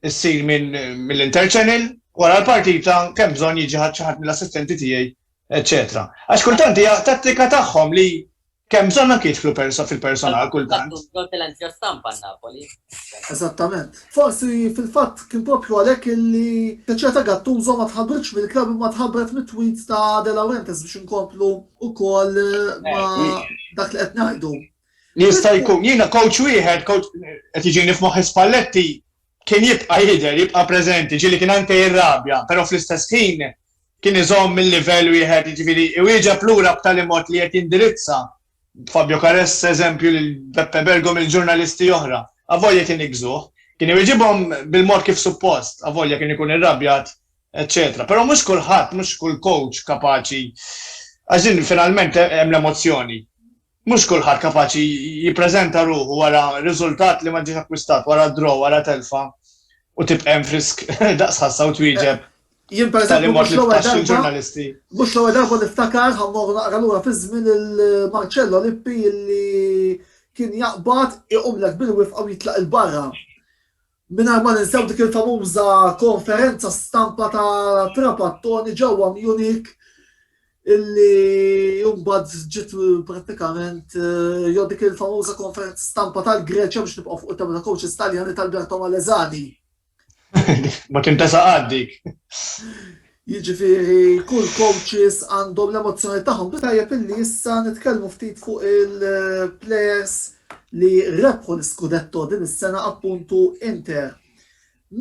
ssir minn mill-interchannel wara l-partita kemm bżonn jiġi xi ħadd mill-assistenti tiegħi eċċetera. Għax kultant hija tattika tagħhom li Kemm bżonn anke jidħlu persa fil-personal kultant. Bżonn tilanċja stampa n-Napoli. Eżattament. Forsi fil-fatt kien proprju għalhekk illi Crociata Gattuso ma tħabbritx mill-klabb imma tħabbret mit-tweets ta' De Laurentiis biex inkomplu wkoll ma' dak li qed ngħidu. Jista' jkun. Jiena coach wieħed, qed iġini f'moħħi Spalletti, Kien jibqa' jidher, jibqa' preżenti, ġieli kien anke jirrabja, però fl-istess ħin kien iżomm il-livell wieħed, jiġifieri iwieġeb lura b'tali mod li qed jindirizza Fabio Caressa, eżempju, lil Beppe Bergom, lil ġurnalisti oħra, avolja kien iggżuh. Kien iwieġibhom bil-mod kif suppost, avolja kien ikun irrabjat, eċċetera. Però mhux kulħadd, mhux kull kowċ kapaċi, għax din finalment hemm l-emozzjoni. Mhux kulħadd kapaċi jippreżenta ruħu wara riżultat li ma ġiex akkwistat, wara draw, wara telfa, u tibqa' hemm frisk daqs ħassa u twieġeb Jien per b'tali eżempju mod mhux li l-ewwel tfaxxi darba l-ġurnalisti. mhux l-ewwel darba niftakar ħa mmorru naqra lura fiż-żmien il-Marcello Lippi li kien jaqbad iqumlek bil-wifqa u jitlaq 'il barra. Mingħajr ma ninsew dik il-famuża konferenza stampa ta' Trapattoni ġewwa Munich illi mbagħad ġiet prattikament eh, jew dik il-famuża konferenza stampa tal-Greċja biex nibqgħu fuq it-tema ta' coaches Taljani tal-Berto Malezani. Ma kien tesa' għaddik. Jiġifieri kull coaches għandhom l-emozzjoni tagħhom. Bi tajjeb illi issa nitkellmu ftit fuq il-players li rebħu l-iskudetto din is-sena appuntu Inter.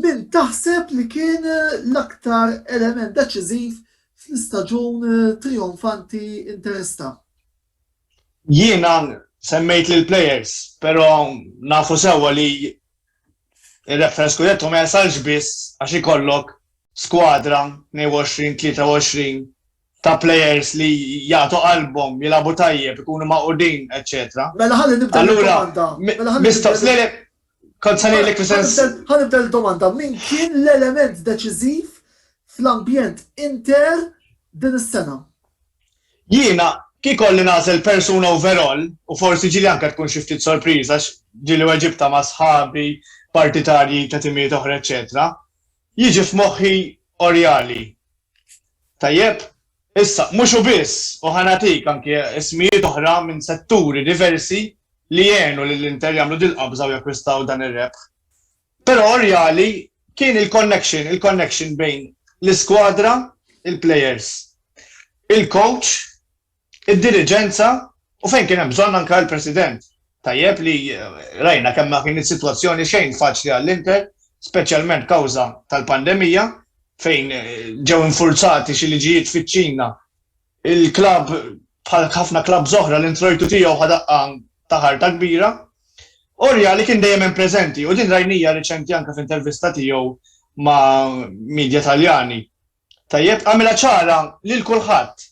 Min taħseb li kien l-aktar element deċiżiv fl-istaġun trijonfanti Interista? Jiena semmejt lill-players, però nafu sewwa li Ir-reference scudetto ma jasalx biss għax ikollok skwadra 22-23 ta' players li jagħtu qalbhom, jilagħbu tajjeb, ikunu magħqudin, eċċetera. Mela ħalli nibda l-domanda. Mela ħalli Kont se ngħidlek fis-sens. Ħalli nibda l-domanda. Min kien l-element deċiżiv fl-ambjent inter din is-sena? Jiena, kif ikolli nagħżel persuna overall, u forsi ġieli anke tkun xi ftit sorpriża għax ġieli weġibtha ma' sħabi, partitarji ta' timijiet oħra eċċetera, jiġi f'moħħi Oriali. Tajjeb? Issa, mhux hu biss, u ħa nagħtik anke ismijiet oħra minn setturi diversi li għenu lil Inter jagħmlu dil-qabża u jakkwistaw dan ir-rebħ. Però r-reali kien il-connection, il-connection bejn l-iskwadra, il-players, il-coach, id-diriġenza u fejn kien hemm bżonn anke l-president. Tajjeb li rajna kemm ma kinitx sitwazzjoni xejn faċli għall-Inter, speċjalment kawża tal-pandemija fejn ġew infurzati xi liġijiet fiċ-Ċina Il-klabb, bħal ħafna klabbs oħra, l-introjtu tiegħu ħa daqqa ta' ħarta kbira. Oriali kien dejjem hemm preżenti u din rajnija riċenti anke f'intervista tiegħu ma' midja Taljani. Tajjeb, għamilha ċara lil kulħadd.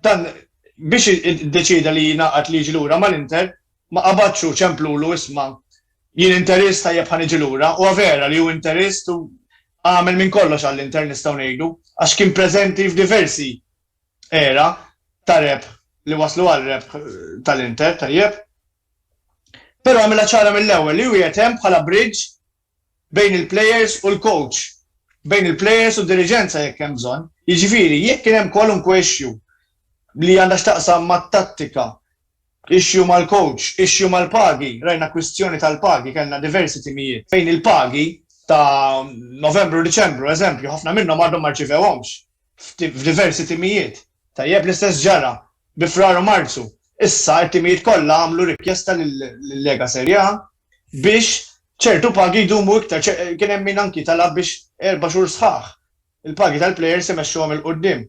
Dan biex iddeċieda li jingħaqad li jiġi lura mal-Inter, ma qabadx u ċemplulu isma' Jien interist tajjeb ħa niġi lura, huwa vera li hu interist u għamel minn kollox għall-Inter nistgħu ngħidu, għax kien preżenti f'diversi era ta' rebħ li wasslu għal rebħ tal-Inter tajjeb. Però għamilha ċara mill-ewwel li hu qiegħed hemm bħala bridge bejn il-plejers u l-kowċ, bejn il-plejers u d-diriġenza jekk hemm bżonn. Jiġifieri jekk kien hemm kwalunkwe issue li għandha x'taqsam mat-tattika Issue mal-coach, issue mal-pagi, rajna kwistjoni tal-pagi, kellna diversi timijiet fejn il-pagi ta' Novembru u Diċembru, eżempju, ħafna minnhom għadhom ma rċivewhomx f'diversi timijiet. Tajjeb l-istess ġara bi Frar u Marzu. Issa t-timijiet kollha għamlu rikjesta lil-Lega Serie A biex ċertu pagi jdumu iktar, kien hemm min anki talab biex erba' xhur sħaħ Il-pagi tal-plejers imexxuhom 'il quddiem.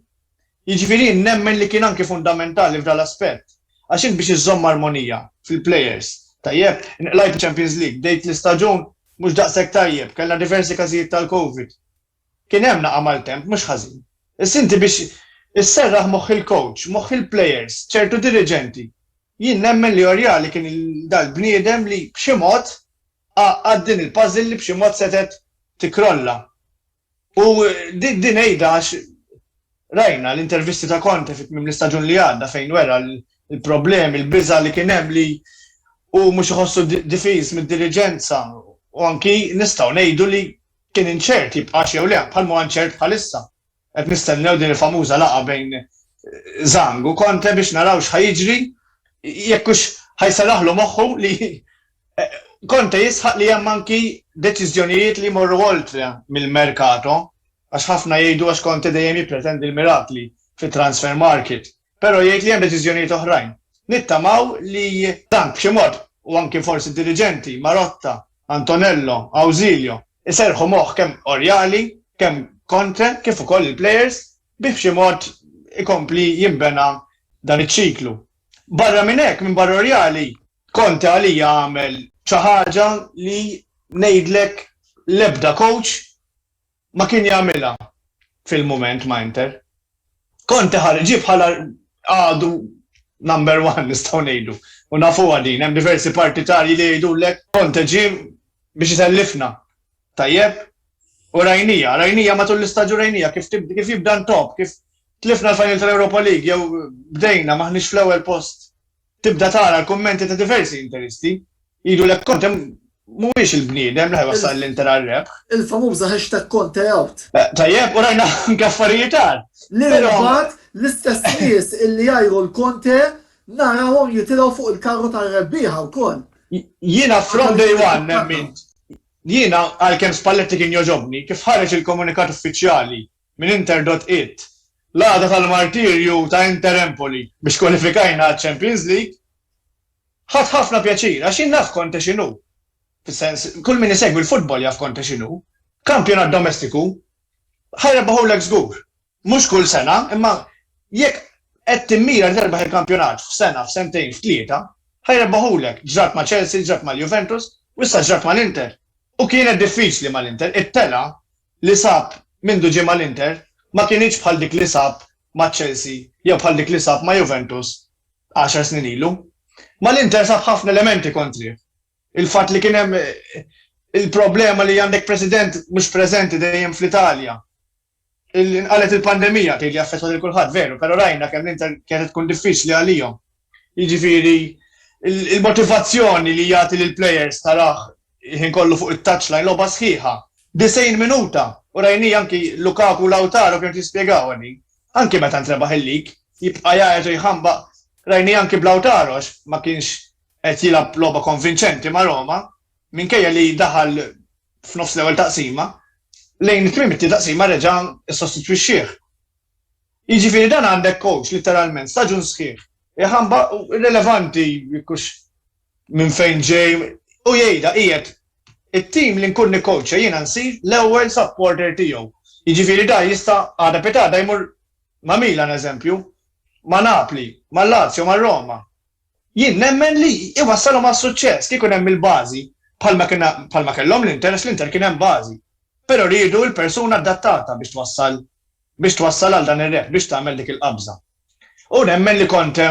Jiġifieri jien nemmen li kien anki fundamentali f'dan l-aspett. Għax int biex iżżomm armonija fil-plejers, tajjeb, inqlajt iċ-Champions League, bdejt l-istaġun mhux daqshekk tajjeb, kellna diversi każijiet tal-Covid. Kien hemm naqgħa maltemp mhux ħażin. Issa inti biex isserraħ moħħ il-coach, moħħ il-plejers, ċertu diriġenti. Jien nemmen li Oriali kien dal-bniedem li b'xi mod għaqqad din il-puzzle li b'xi mod setgħet tikkrolla. U din għidha għax rajna l-intervisti ta' Conte fi tmiem l-istaġun li għadda fejn wera l-problemi, l-biża' li kien hemm li hu mhux iħossu difiż mid-diriġenza u anki nistgħu ngħidu li kien inċert jibqax jew le, bħalma huwa inċert bħalissa. Qed nistennew din il-famuża laqgħa bejn Zhang u Conte biex naraw x'ħa jiġri, jekk hux ħa jserraħlu moħħu li Conte jisħaq li hemm anki deċiżjonijiet li jmorru oltre mill-merkato għax ħafna jgħidu għax Conte dejjem jippretendi l-mirakli fit-transfer market, però jgħid li hemm deċiżjonijiet oħrajn. Nittamaw li dan b'xi mod, u anki forsi d-diriġenti, Marotta, Antonello, Ausilio, iserrħu moħħ kemm Oriali, kemm Conte kif ukoll il-plejers biex b'xi mod ikompli jinbena dan iċ-ċiklu. Barra minn hekk, minbarra Oriali, Conte għalija għamel xi ħaġa li ngħidlek l-ebda coach ma kien jagħmilha fil-mument ma' Inter. Conte ħareġ ġie bħala għadu number one nistgħu ngħidu u nafuha din, hemm diversi partitarji li jgħidulek Conte ġie biex isellifna. Tajjeb? U rajnija, rajnija matul l-istaġun rajnija kif jibda ntopp, kif tlifna l-final tal-Europa League jew bdejna m'aħniex fl-ewwel post Tibda tara l-kummenti ta' diversi interisti jgħidulek Conte mhuwiex il-bniedem li ħa jwassal l-Inter għar-rebħ. Il-famuża hashtag ConteOut. Tajjeb, u rajna anke affarijiet agħar. Li mbagħad l-istess nies li jgħajru 'l Conte narawhom jitilgħu fuq il-karru tar-rebbieħa wkoll. Jiena from day one nemmint, jiena għalkemm Spalletti kien jogħġobni, kif ħareġ il-komunikat uffiċjali Min interdott id. L-għada tal-martirju ta' Inter Empoli biex kwalifikajna għaċ-Champions League, ħadt ħafna pjaċir għax jien naf Conte x'inhu. Fis-sens, kull min isegwi l-futbol jaf Conte x'inhu. Kampjonat domestiku ħajrebaħulek żgur. Mhux kull sena, imma jekk qed timmira li terbaħ il-kampjonat f'sena, f'sentejn, f'tlieta, ħajrebaħulek. Ġrat ma' Chelsea, ġrat mal-Juventus, u issa ġrat mal-Inter. U kienet diffiċli mal-Inter, it-telgħa li sab mindu ġie mal-Inter ma kinitx bħal dik li sab ma' Chelsea jew bħal dik li sab ma' Juventus għaxar snin ilu. Mal-Inter sab ħafna elementi kontrih. Il-fatt li kien hemm il-problema li għandek President mhux preżenti dejjem fl-Italja. Inqalgħet il-pandemija tgħid li affettwat lil kulħadd veru, però rajna kemm l-Inter kienet qed tkun diffiċli għalihom. Jiġifieri l-motivazzjoni li jagħti lill-players tarah il-ħin kollu fuq it-touchline, logħba sħiħa, 90 minuta, u rajnieh anki Lukaku u Lautaro kienu qed jispjegawha din. Anki meta ntrebaħ il-league, jibqa' jgħajjat u jħambaq, rajnieh anki b'Lautaro għax ma kienx qed jilgħab logħba konvinċenti ma' Roma, minkejja li daħal f'nofs l-ewwel taqsima, lejn tmiem it-tieni taqsima reġa' ssostitwixxieh. Jiġifieri dan għandek coach litteralment staġun sħiħ. Iħamba rilevanti kux minn fejn ġej u jgħidha qiegħed it-tim li nkun nikkoċċa jiena nsir l-ewwel supporter tiegħu. Jiġifieri da jista' għada pitada jmur ma' Milan eżempju, ma' Napli, ma' Lazio, ma' Roma. Jien nemmen li jwassalhom għas-suċċess kieku hemm il-bażi bħalma kien bħalma kellhom l-Inter għax l-Inter kien hemm bażi. Però riedu l-persuna adattata biex twassal biex twassal għal dan ir-rebħ, biex tagħmel dik il-qabża. U nemmen li Conte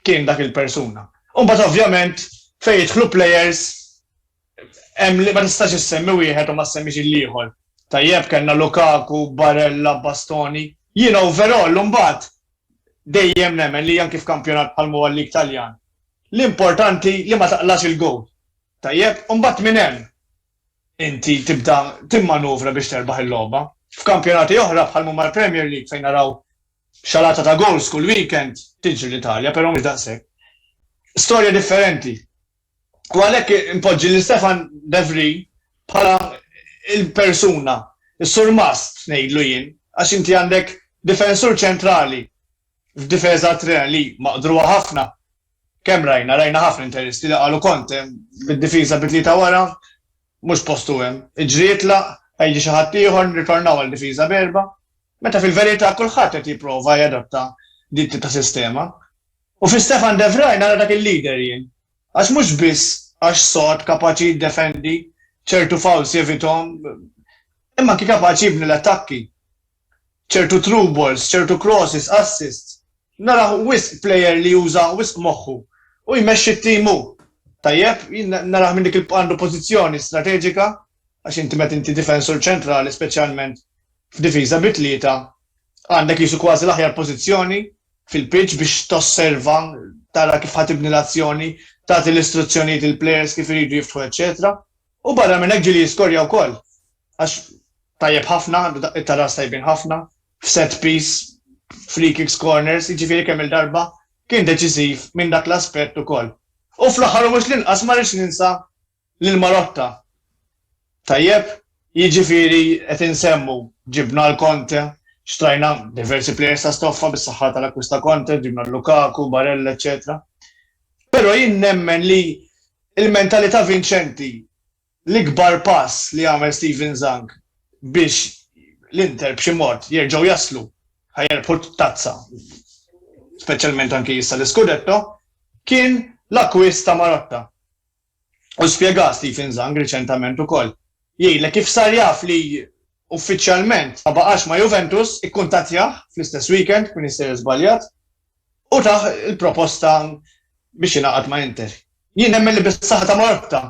kien dak il-persuna. U mbagħad ovvjament fejn jidħlu plejers Hemm li ma tistax issemmi wieħed u ma ssemmix il-ieħor. Tajjeb kellna Lukaku, Barella, Bastoni. Jiena overall imbagħad dejjem nemmen li anki f'kampjonat bħalma huwa l-League Taljan, l-importanti li ma taqlax il-gowl. Tajjeb? U mbagħad minn hemm inti tibda timmanuvra biex terbaħ il-logħba. F'kampjonati oħra bħalma huma l-Premier League fejn naraw xalata ta' gowls kull weekend, tiġri l-Italja, però mhux daqshekk. Storja differenti. U għalhekk inpoġġi lil Stefan de Vries bħala l-persuna, is-surmast ngħidlu jien, għax inti għandek difensur ċentrali f'difiża Tre li maqdrugħa ħafna. Kemm rajna, rajna ħafna interisti li qalu Conte bid-difiża bi tlieta wara mhux postu hemm. Iġri jitlaq, ħa jiġi xi ħadd ieħor, nirtornaw għal difiża b'erbgħa. Meta fil-verità kulħadd qed jipprova jadatta din it-tip ta' sistema. U fi Stefan de Vrij nara dak il-leader jien. Għax mhux biss għax sod, kapaċi jiddefendi, ċertu fouls jevithom, imma anki kapaċi jibni l-attakki. Ċertu through balls, ċertu crosses, assists. Narah wisq player li juża wisq moħħu u jmexxi t-team hu. Tajjeb, jien narah minn dik il-għandu pożizzjoni strateġika, għax inti meta inti difensur ċentrali speċjalment f'difiża bi tlieta għandek qisu kważi l-aħjar pożizzjoni, fil-pitch biex tosserva, tara kif ħa tibni l-azzjoni, tagħti l-istruzzjonijiet lill-plejers kif iridu jiftħu eċċetera. U barra minn hekk ġieli jiskorja wkoll għax tajjeb ħafna, għandu daqqiet ta' ras tajbin ħafna, f'set piece, free kicks, corners, jiġifieri kemm-il darba kien deċiżiv minn dak l-aspett ukoll. U fl-aħħar u mhux l-inqas ma rridx ninsa Lil Marotta. Tajjeb, jiġifieri qed insemmu, ġibna l-Conte, xtrajna diversi players ta' stoffa bis-saħħa tal-akkwist ta' Conte, ġibna Lukaku, Barella, eċċetera. Però jien nemmen li l-mentalità vinċenti, l-ikbar pass li għamel Steven Zhang biex l-Inter b'xi mod jerġgħu jaslu ħa jerbħu t-tazza, speċjalment anki issa l-Iscudetto, kien l-akkwist ta' Marotta. u spjega Stephen Zhang riċentament ukoll, jgħidlek kif sar jaf li uffiċjalment ma baqax ma' Juventus, ikkuntattjah fl-istess weekend, minn jissejjer żbaljat, u tah il-proposta biex jingħaqad ma' Inter. Jien nemmen li bis-saħħa ta' Marotta,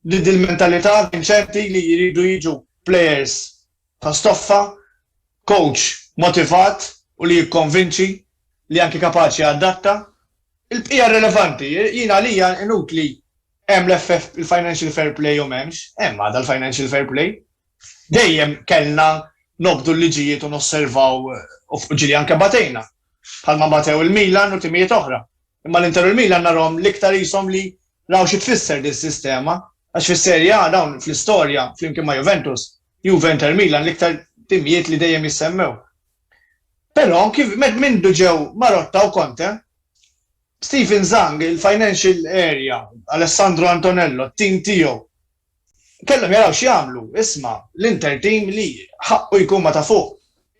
li dil-mentalità vinċenti li jridu jiġu plejers ta' stoffa, kowċ motivat u li jikkonvinċi, li anki kapaċi jadatta. Il-bqija relevanti. Jien għalija inutli hemm l-FF, il-financial fair play jew m'hemmx, hemm għadha l-financial fair play. Dejjem kellna nobdu l-liġijiet u nosservaw u fuq ġieli anke batejna. Bħalma batew il-Milan u timijiet oħra. Imma l-Inter u l-Milan narhom l-iktar qishom li raw xi tfisser din is-sistema għax fis-Serie A dawn fl-istorja flimkien ma' Juventus Juve Inter Milan l-iktar timijiet li dejjem jissemmew. Però kif mindu ġew Marotta u Conte, Stephen Zhang, il-financial area, Alessandro Antonello, t-tim tiegħu, kellhom jaraw x'jagħmlu. Isma', l-Inter tim li ħaqqu jkun ma' ta' fuq.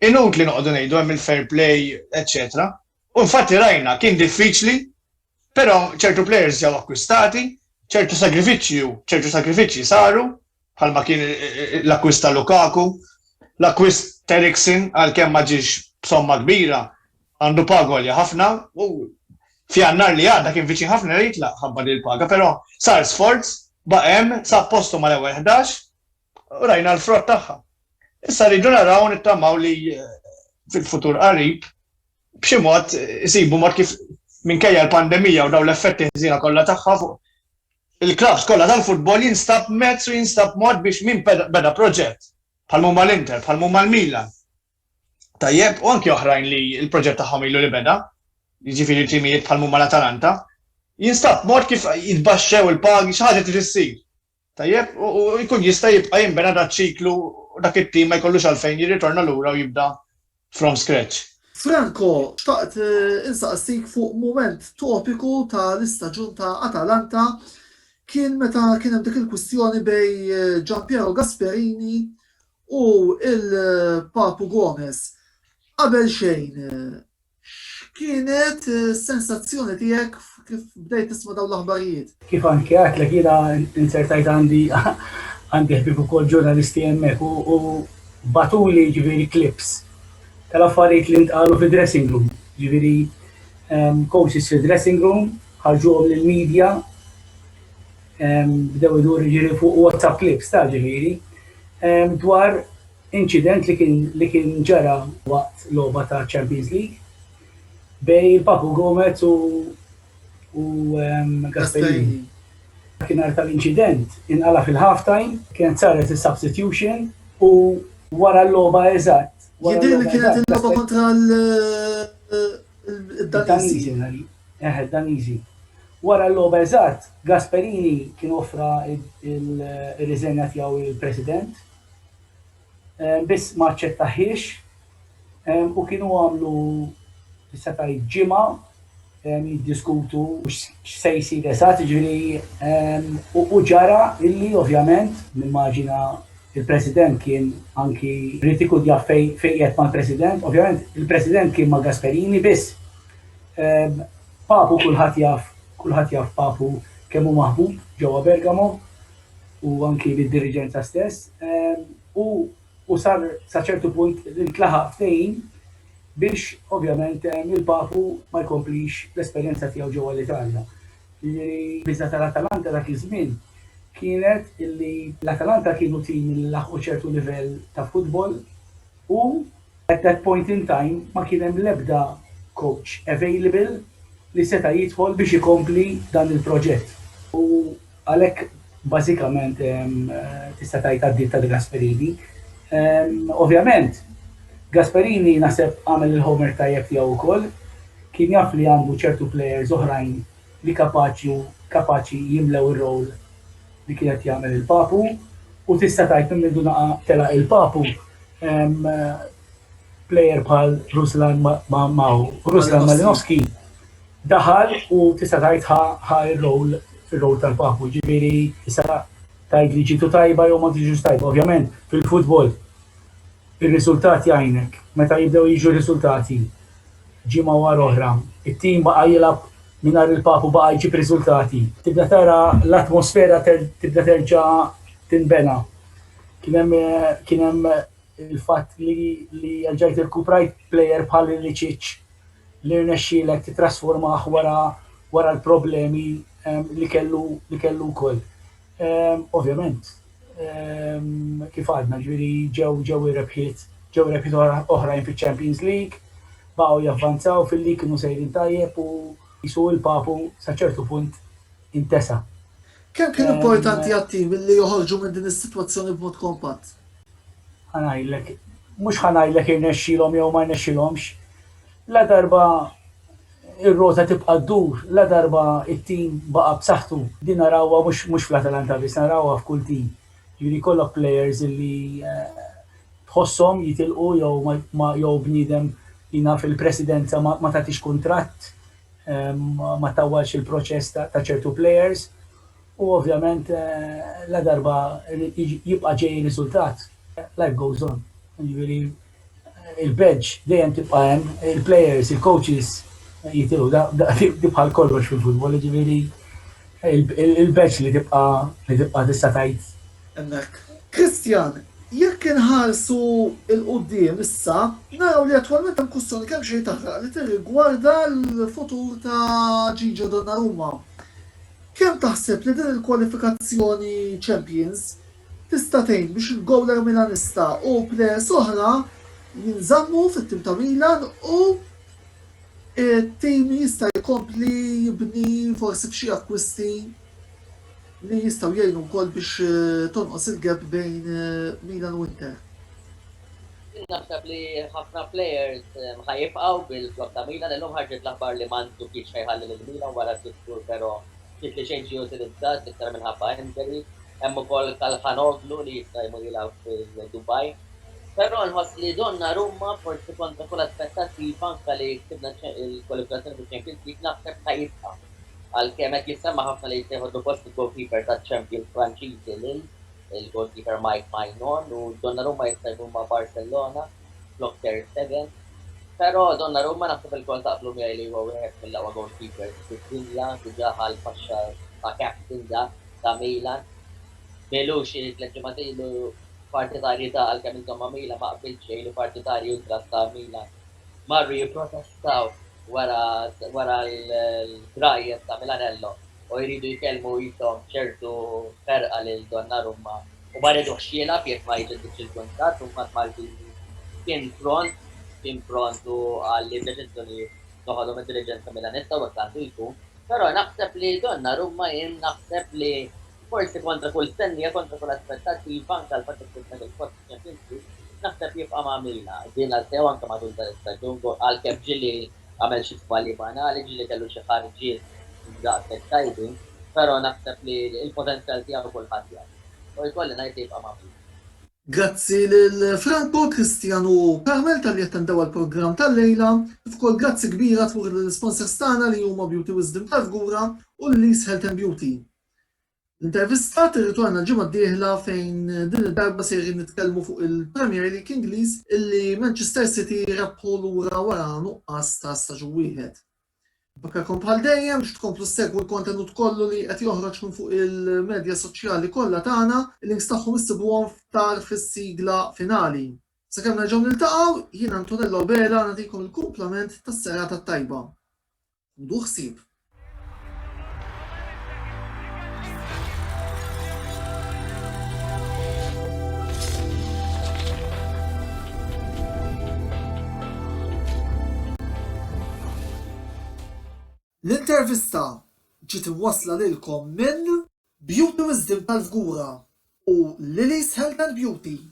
Inutli noqogħdu ngħidu hemm il-fair play, eċċetera. U infatti rajna, kien diffiċli Però ċertu players ġew akkwistati, ċertu sagrifiċċji, ċertu sagrifiċċji saru, bħalma kien eh, eh, eh, l-akkwist ta' Lukaku, l-akkwist ta' Eriksen għal kemm ma ġiex b'somma kbira, għandu pagolja ħafna u fjannar li għadda kien viċin ħafna li jitlaq ħabba li l-paga, però sar sforz baqem sa postu mal ewwel 11 u rajna l-frott tagħha. Issa rridu naraw nittamaw li fil-futur qarib b'xi mod isibu mod kif minkejja l-pandemija u daw l-effetti ħżina kollha tagħha fuq il-klabs kollha tal-futbol jinstab mezz u jinstab mod biex min beda proġett bħal mumma l-Inter, bħal mumma l-Milan. Tajjeb, u anki oħrajn li l-proġett tagħhom ilu li beda, jiġifieri timijiet bħal mumma l-Atalanta, jinstab mod kif jitbaxxew il-pagi xi ħaġa trid issir. Tajjeb, u jkun jista' jibqa' jinbena dak ċiklu u dak it-tim ma jkollux għalfejn jirritorna lura u jibda from scratch. Franco, xtaqt insaqsik fuq mument topiku ta' l-istaġun ta' Atalanta, kien meta kien hemm dik il-kwistjoni bejn Gianpiero Gasperini u l-Papu Gomez. Qabel xejn, X'kienet is-sensazzjoni tiegħek kif bdejt tisma' dawn l-aħbarijiet? Kif anke għedtlek jiena inzertajt għandi għandi ħbieb ukoll ġurnalisti hemmhekk u bagħtuli ġifieri clips tal-affarijiet li ntqalu fid-dressing room. Ġifieri ehm, coaches fid-dressing room ħarġuhom lill-media ehm, bdew idur ġifieri fuq WhatsApp clips ta' ġifieri ehm, dwar Inċident li kien li kien ġara waqt logħba ta' Champions League bejn Papu Gomez u u Gasperini. Dakinhar tal-inċident inqala' fil-half-time, kienet saret is-substitution u wara l-logħba eżatt, wara l-logħba eżatt. Jidhirli kienet il-logħba kontra l-Daniżi. Eħe, d-Daniżi. Wara l-logħba eżatt, Gasperini kien offra r-riżenja tiegħu lill-President. biss ma aċċettahiex u kienu għamlu tista' tgħid ġimgħa jiddiskutu x'se jsir eżatt, jiġifieri u ġara illi ovvjament nimmaġina il-President kien anki ried ikun jaf fejn qiegħed mal-President, ovvjament il-President kien ma' Gasperini biss Papu kulħadd jaf kulħadd jaf Papu kemm hu maħbub ġewwa Bergamo u anki lid-diriġenza stess, u sar sa ċertu punt li ntlaħaq ftehim biex ovvjament il-Papu ma jkomplix l-esperjenza tiegħu ġewwa l-Italja. Jiġifieri l-biża' tal-Atalanta dak iż-żmien kienet li l-Atalanta kienu tim li laħqu ċertu livell ta' futbol u at that point in time ma kien hemm l-ebda coach available li seta' jidħol biex ikompli dan il-proġett u Għalhekk bażikament tista' tgħid għaddiet ta' De Gasperini. Ovvjament, Gasperini naħseb għamel il-homework tajjeb tiegħu wkoll. Kien jaf li għandu ċertu players oħrajn li kapaċi u kapaċi jimlew ir-role li kien qed jagħmel il-Papu u tista' tgħid minn mindu naqa' telaq il-Papu player bħal Ruslan ma' Ruslan Malinowski Daħal u tista' tgħid ħa ħa r-role ir-role tal-papu, jiġifieri issa tgħid li ġietu tajba jew ma ġietux tajba. Ovvjament fil-futbol ir-riżultat jgħinek. Meta jibdew jiġu r-riżultati ġimgħa wara oħra, it-tim baqa' jilgħab mingħajr il-papu baqa' jġib riżultati. Tibda tara l-atmosfera tibda terġa' tinbena. Kien hemm kien hemm il-fatt li li erġajt irkuprajt plejer bħal Ilicic, li rnexxielek tittrasformah wara wara l-problemi li kellu li kellu wkoll. Ovvjament, kif għadna, ġifieri ġew ġew ir-rebħiet ġew rebħiet oħrajn fiċ-Champions League, baqgħu javvanzaw fil-league kienu sejrin tajjeb u qisu il-Papu sa ċertu punt intesa. Kemm kien importanti għat-tim li joħorġu minn din is-sitwazzjoni b'mod kompatt? Ħa ngħidlek, mhux ħa ngħidlek irnexxielhom jew ma rnexxielhomx. Ladarba r-rota tibqa' ddur, ladarba t-tim baqa' b'saħħtu, din narawha mhux fl-Atalanta biss, narawha f'kull tim. Jiġifieri jkollok players li tħosshom jitilqu jew bniedem jingħad fil-presidenza ma tagħtix kuntratt, ma ttawwalx il-proċess ta' ċertu plejers u ovvjament ladarba jibqa' ġej ir-riżultat, life goes on. Jiġifieri l-bench dejjem tibqa' hemm, il-plejers, il-kowċis jitilgħu, dik bħal kollox fil-futbol, jiġifieri l-bench li tibqa' tista' tgħid hemmhekk. Christian, Jekk inħarsu 'l quddiem issa, naraw li attwalment hemm kwistjoni kemxejn taħraq li tirrigwarda l-futur ta' Gigio Donnarumma. Kemm taħseb li din il-kwalifikazzjoni Champions tista' tgħin biex il-gowler Milanista u plejers oħra jinżammu fit-tim ta' Milan u t-tim jista' jkompli jibni forsi b'xi akkwisti? li jistgħu jgħinu wkoll biex tonqos il-gap bejn Milan u Inter. Jien naħseb li ħafna players ħa jibqgħu bil-flock ta' Milan, illum ħarġet l-aħbar li Mandzukic ħa jħalli lil Milan wara sitt xhur però ftit li xejn ġie utilizzat l-iktar minħabba injury. Hemm ukoll Calhanoglu li jista' jmur jilgħab fil-Dubai. Però nħoss li Donnarumma forsi kontra kull aspettattiva anke li ksibna l-kwalifikazzjoni fiċ-Champions League naħseb ħa jibqa'. Għalkemm qed jissemma ħafna li jista' jħodlu post il-goalkeeper taċ-champions Franċiżi Lille, il-goalkeeper Mike Maignan u Donnarumma jista' jmur ma' Barcellona flok Ter Stegen. Però Donnarumma naħseb ilkoll taqblu miegħi li huwa wieħed mill-aqwa goalkeepers fid-dinja, diġà ħa l-faxxa ta' captain da ta' Milan. Milux xi tliet ġimgħat ilu partitarji ta' għalkemm inżomm ma' Milan ma qbilt xejn li partitarji ultras ta' Milan marru jipprotestaw. Taf, wara wara l-grajjes ta' Milanello u jridu jkellmu qishom b'ċertu ferqa lil Donnarumma u ma riduhx jilgħab jekk ma jġeddidx il-kuntratt u mbagħad Maldini kien pront kien pront u qal li d-deċiżjonijiet noħodhom id-diriġenza Milanista u hekk għandu jkun. Però naħseb li Donnarumma jien naħseb li Forsi kontra kull stennija, kontra kull aspettattiva, anke l-fatt li ksibna ġewġ posti f'Champions League, naħseb jibqa' ma' Mina, din l-Althea u anke matul dan l-istaġun, għalkemm ġieli għamel xi żbalji banali, ġieli kellu xi ħarġiet mhux daqshekk tajbin, però naħseb li l-potenzjal tiegħu kulħadd jaf. U jkolli ngħid li jibqa' ma' Mina. Grazzi lil Franco, Christian u Carmel talli attendew għall-programm tal-lejla. Kif ukoll grazzi kbira tmur lill-isponsors tagħna li huma Beauty Wisdom tal-Fgura u Lilly's Health and Beauty. L-intervistat irritorna l-ġimgħa d-dieħla fejn din id-darba sejrin nitkellmu fuq il-Premier League Ingliż illi Manchester City rebħu lura wara nuqqas ta' staġun wieħed. Nfakkarkom bħal dejjem biex tkomplu ssegwu l-kontenut kollu li qed joħroġ minn fuq il-medja soċjali kollha tagħna, il-links tagħhom issibuhom f'tar fis-sigla finali. Sakemm nerġgħu niltaqgħu, jien Antonello Abela nagħtikom il-kumplament tas-serata t-tajba. ħudu ħsieb. L-intervista ġiet imwassla lilkom minn Beauty Wisdom tal-Fgura u Lily's Health and Beauty.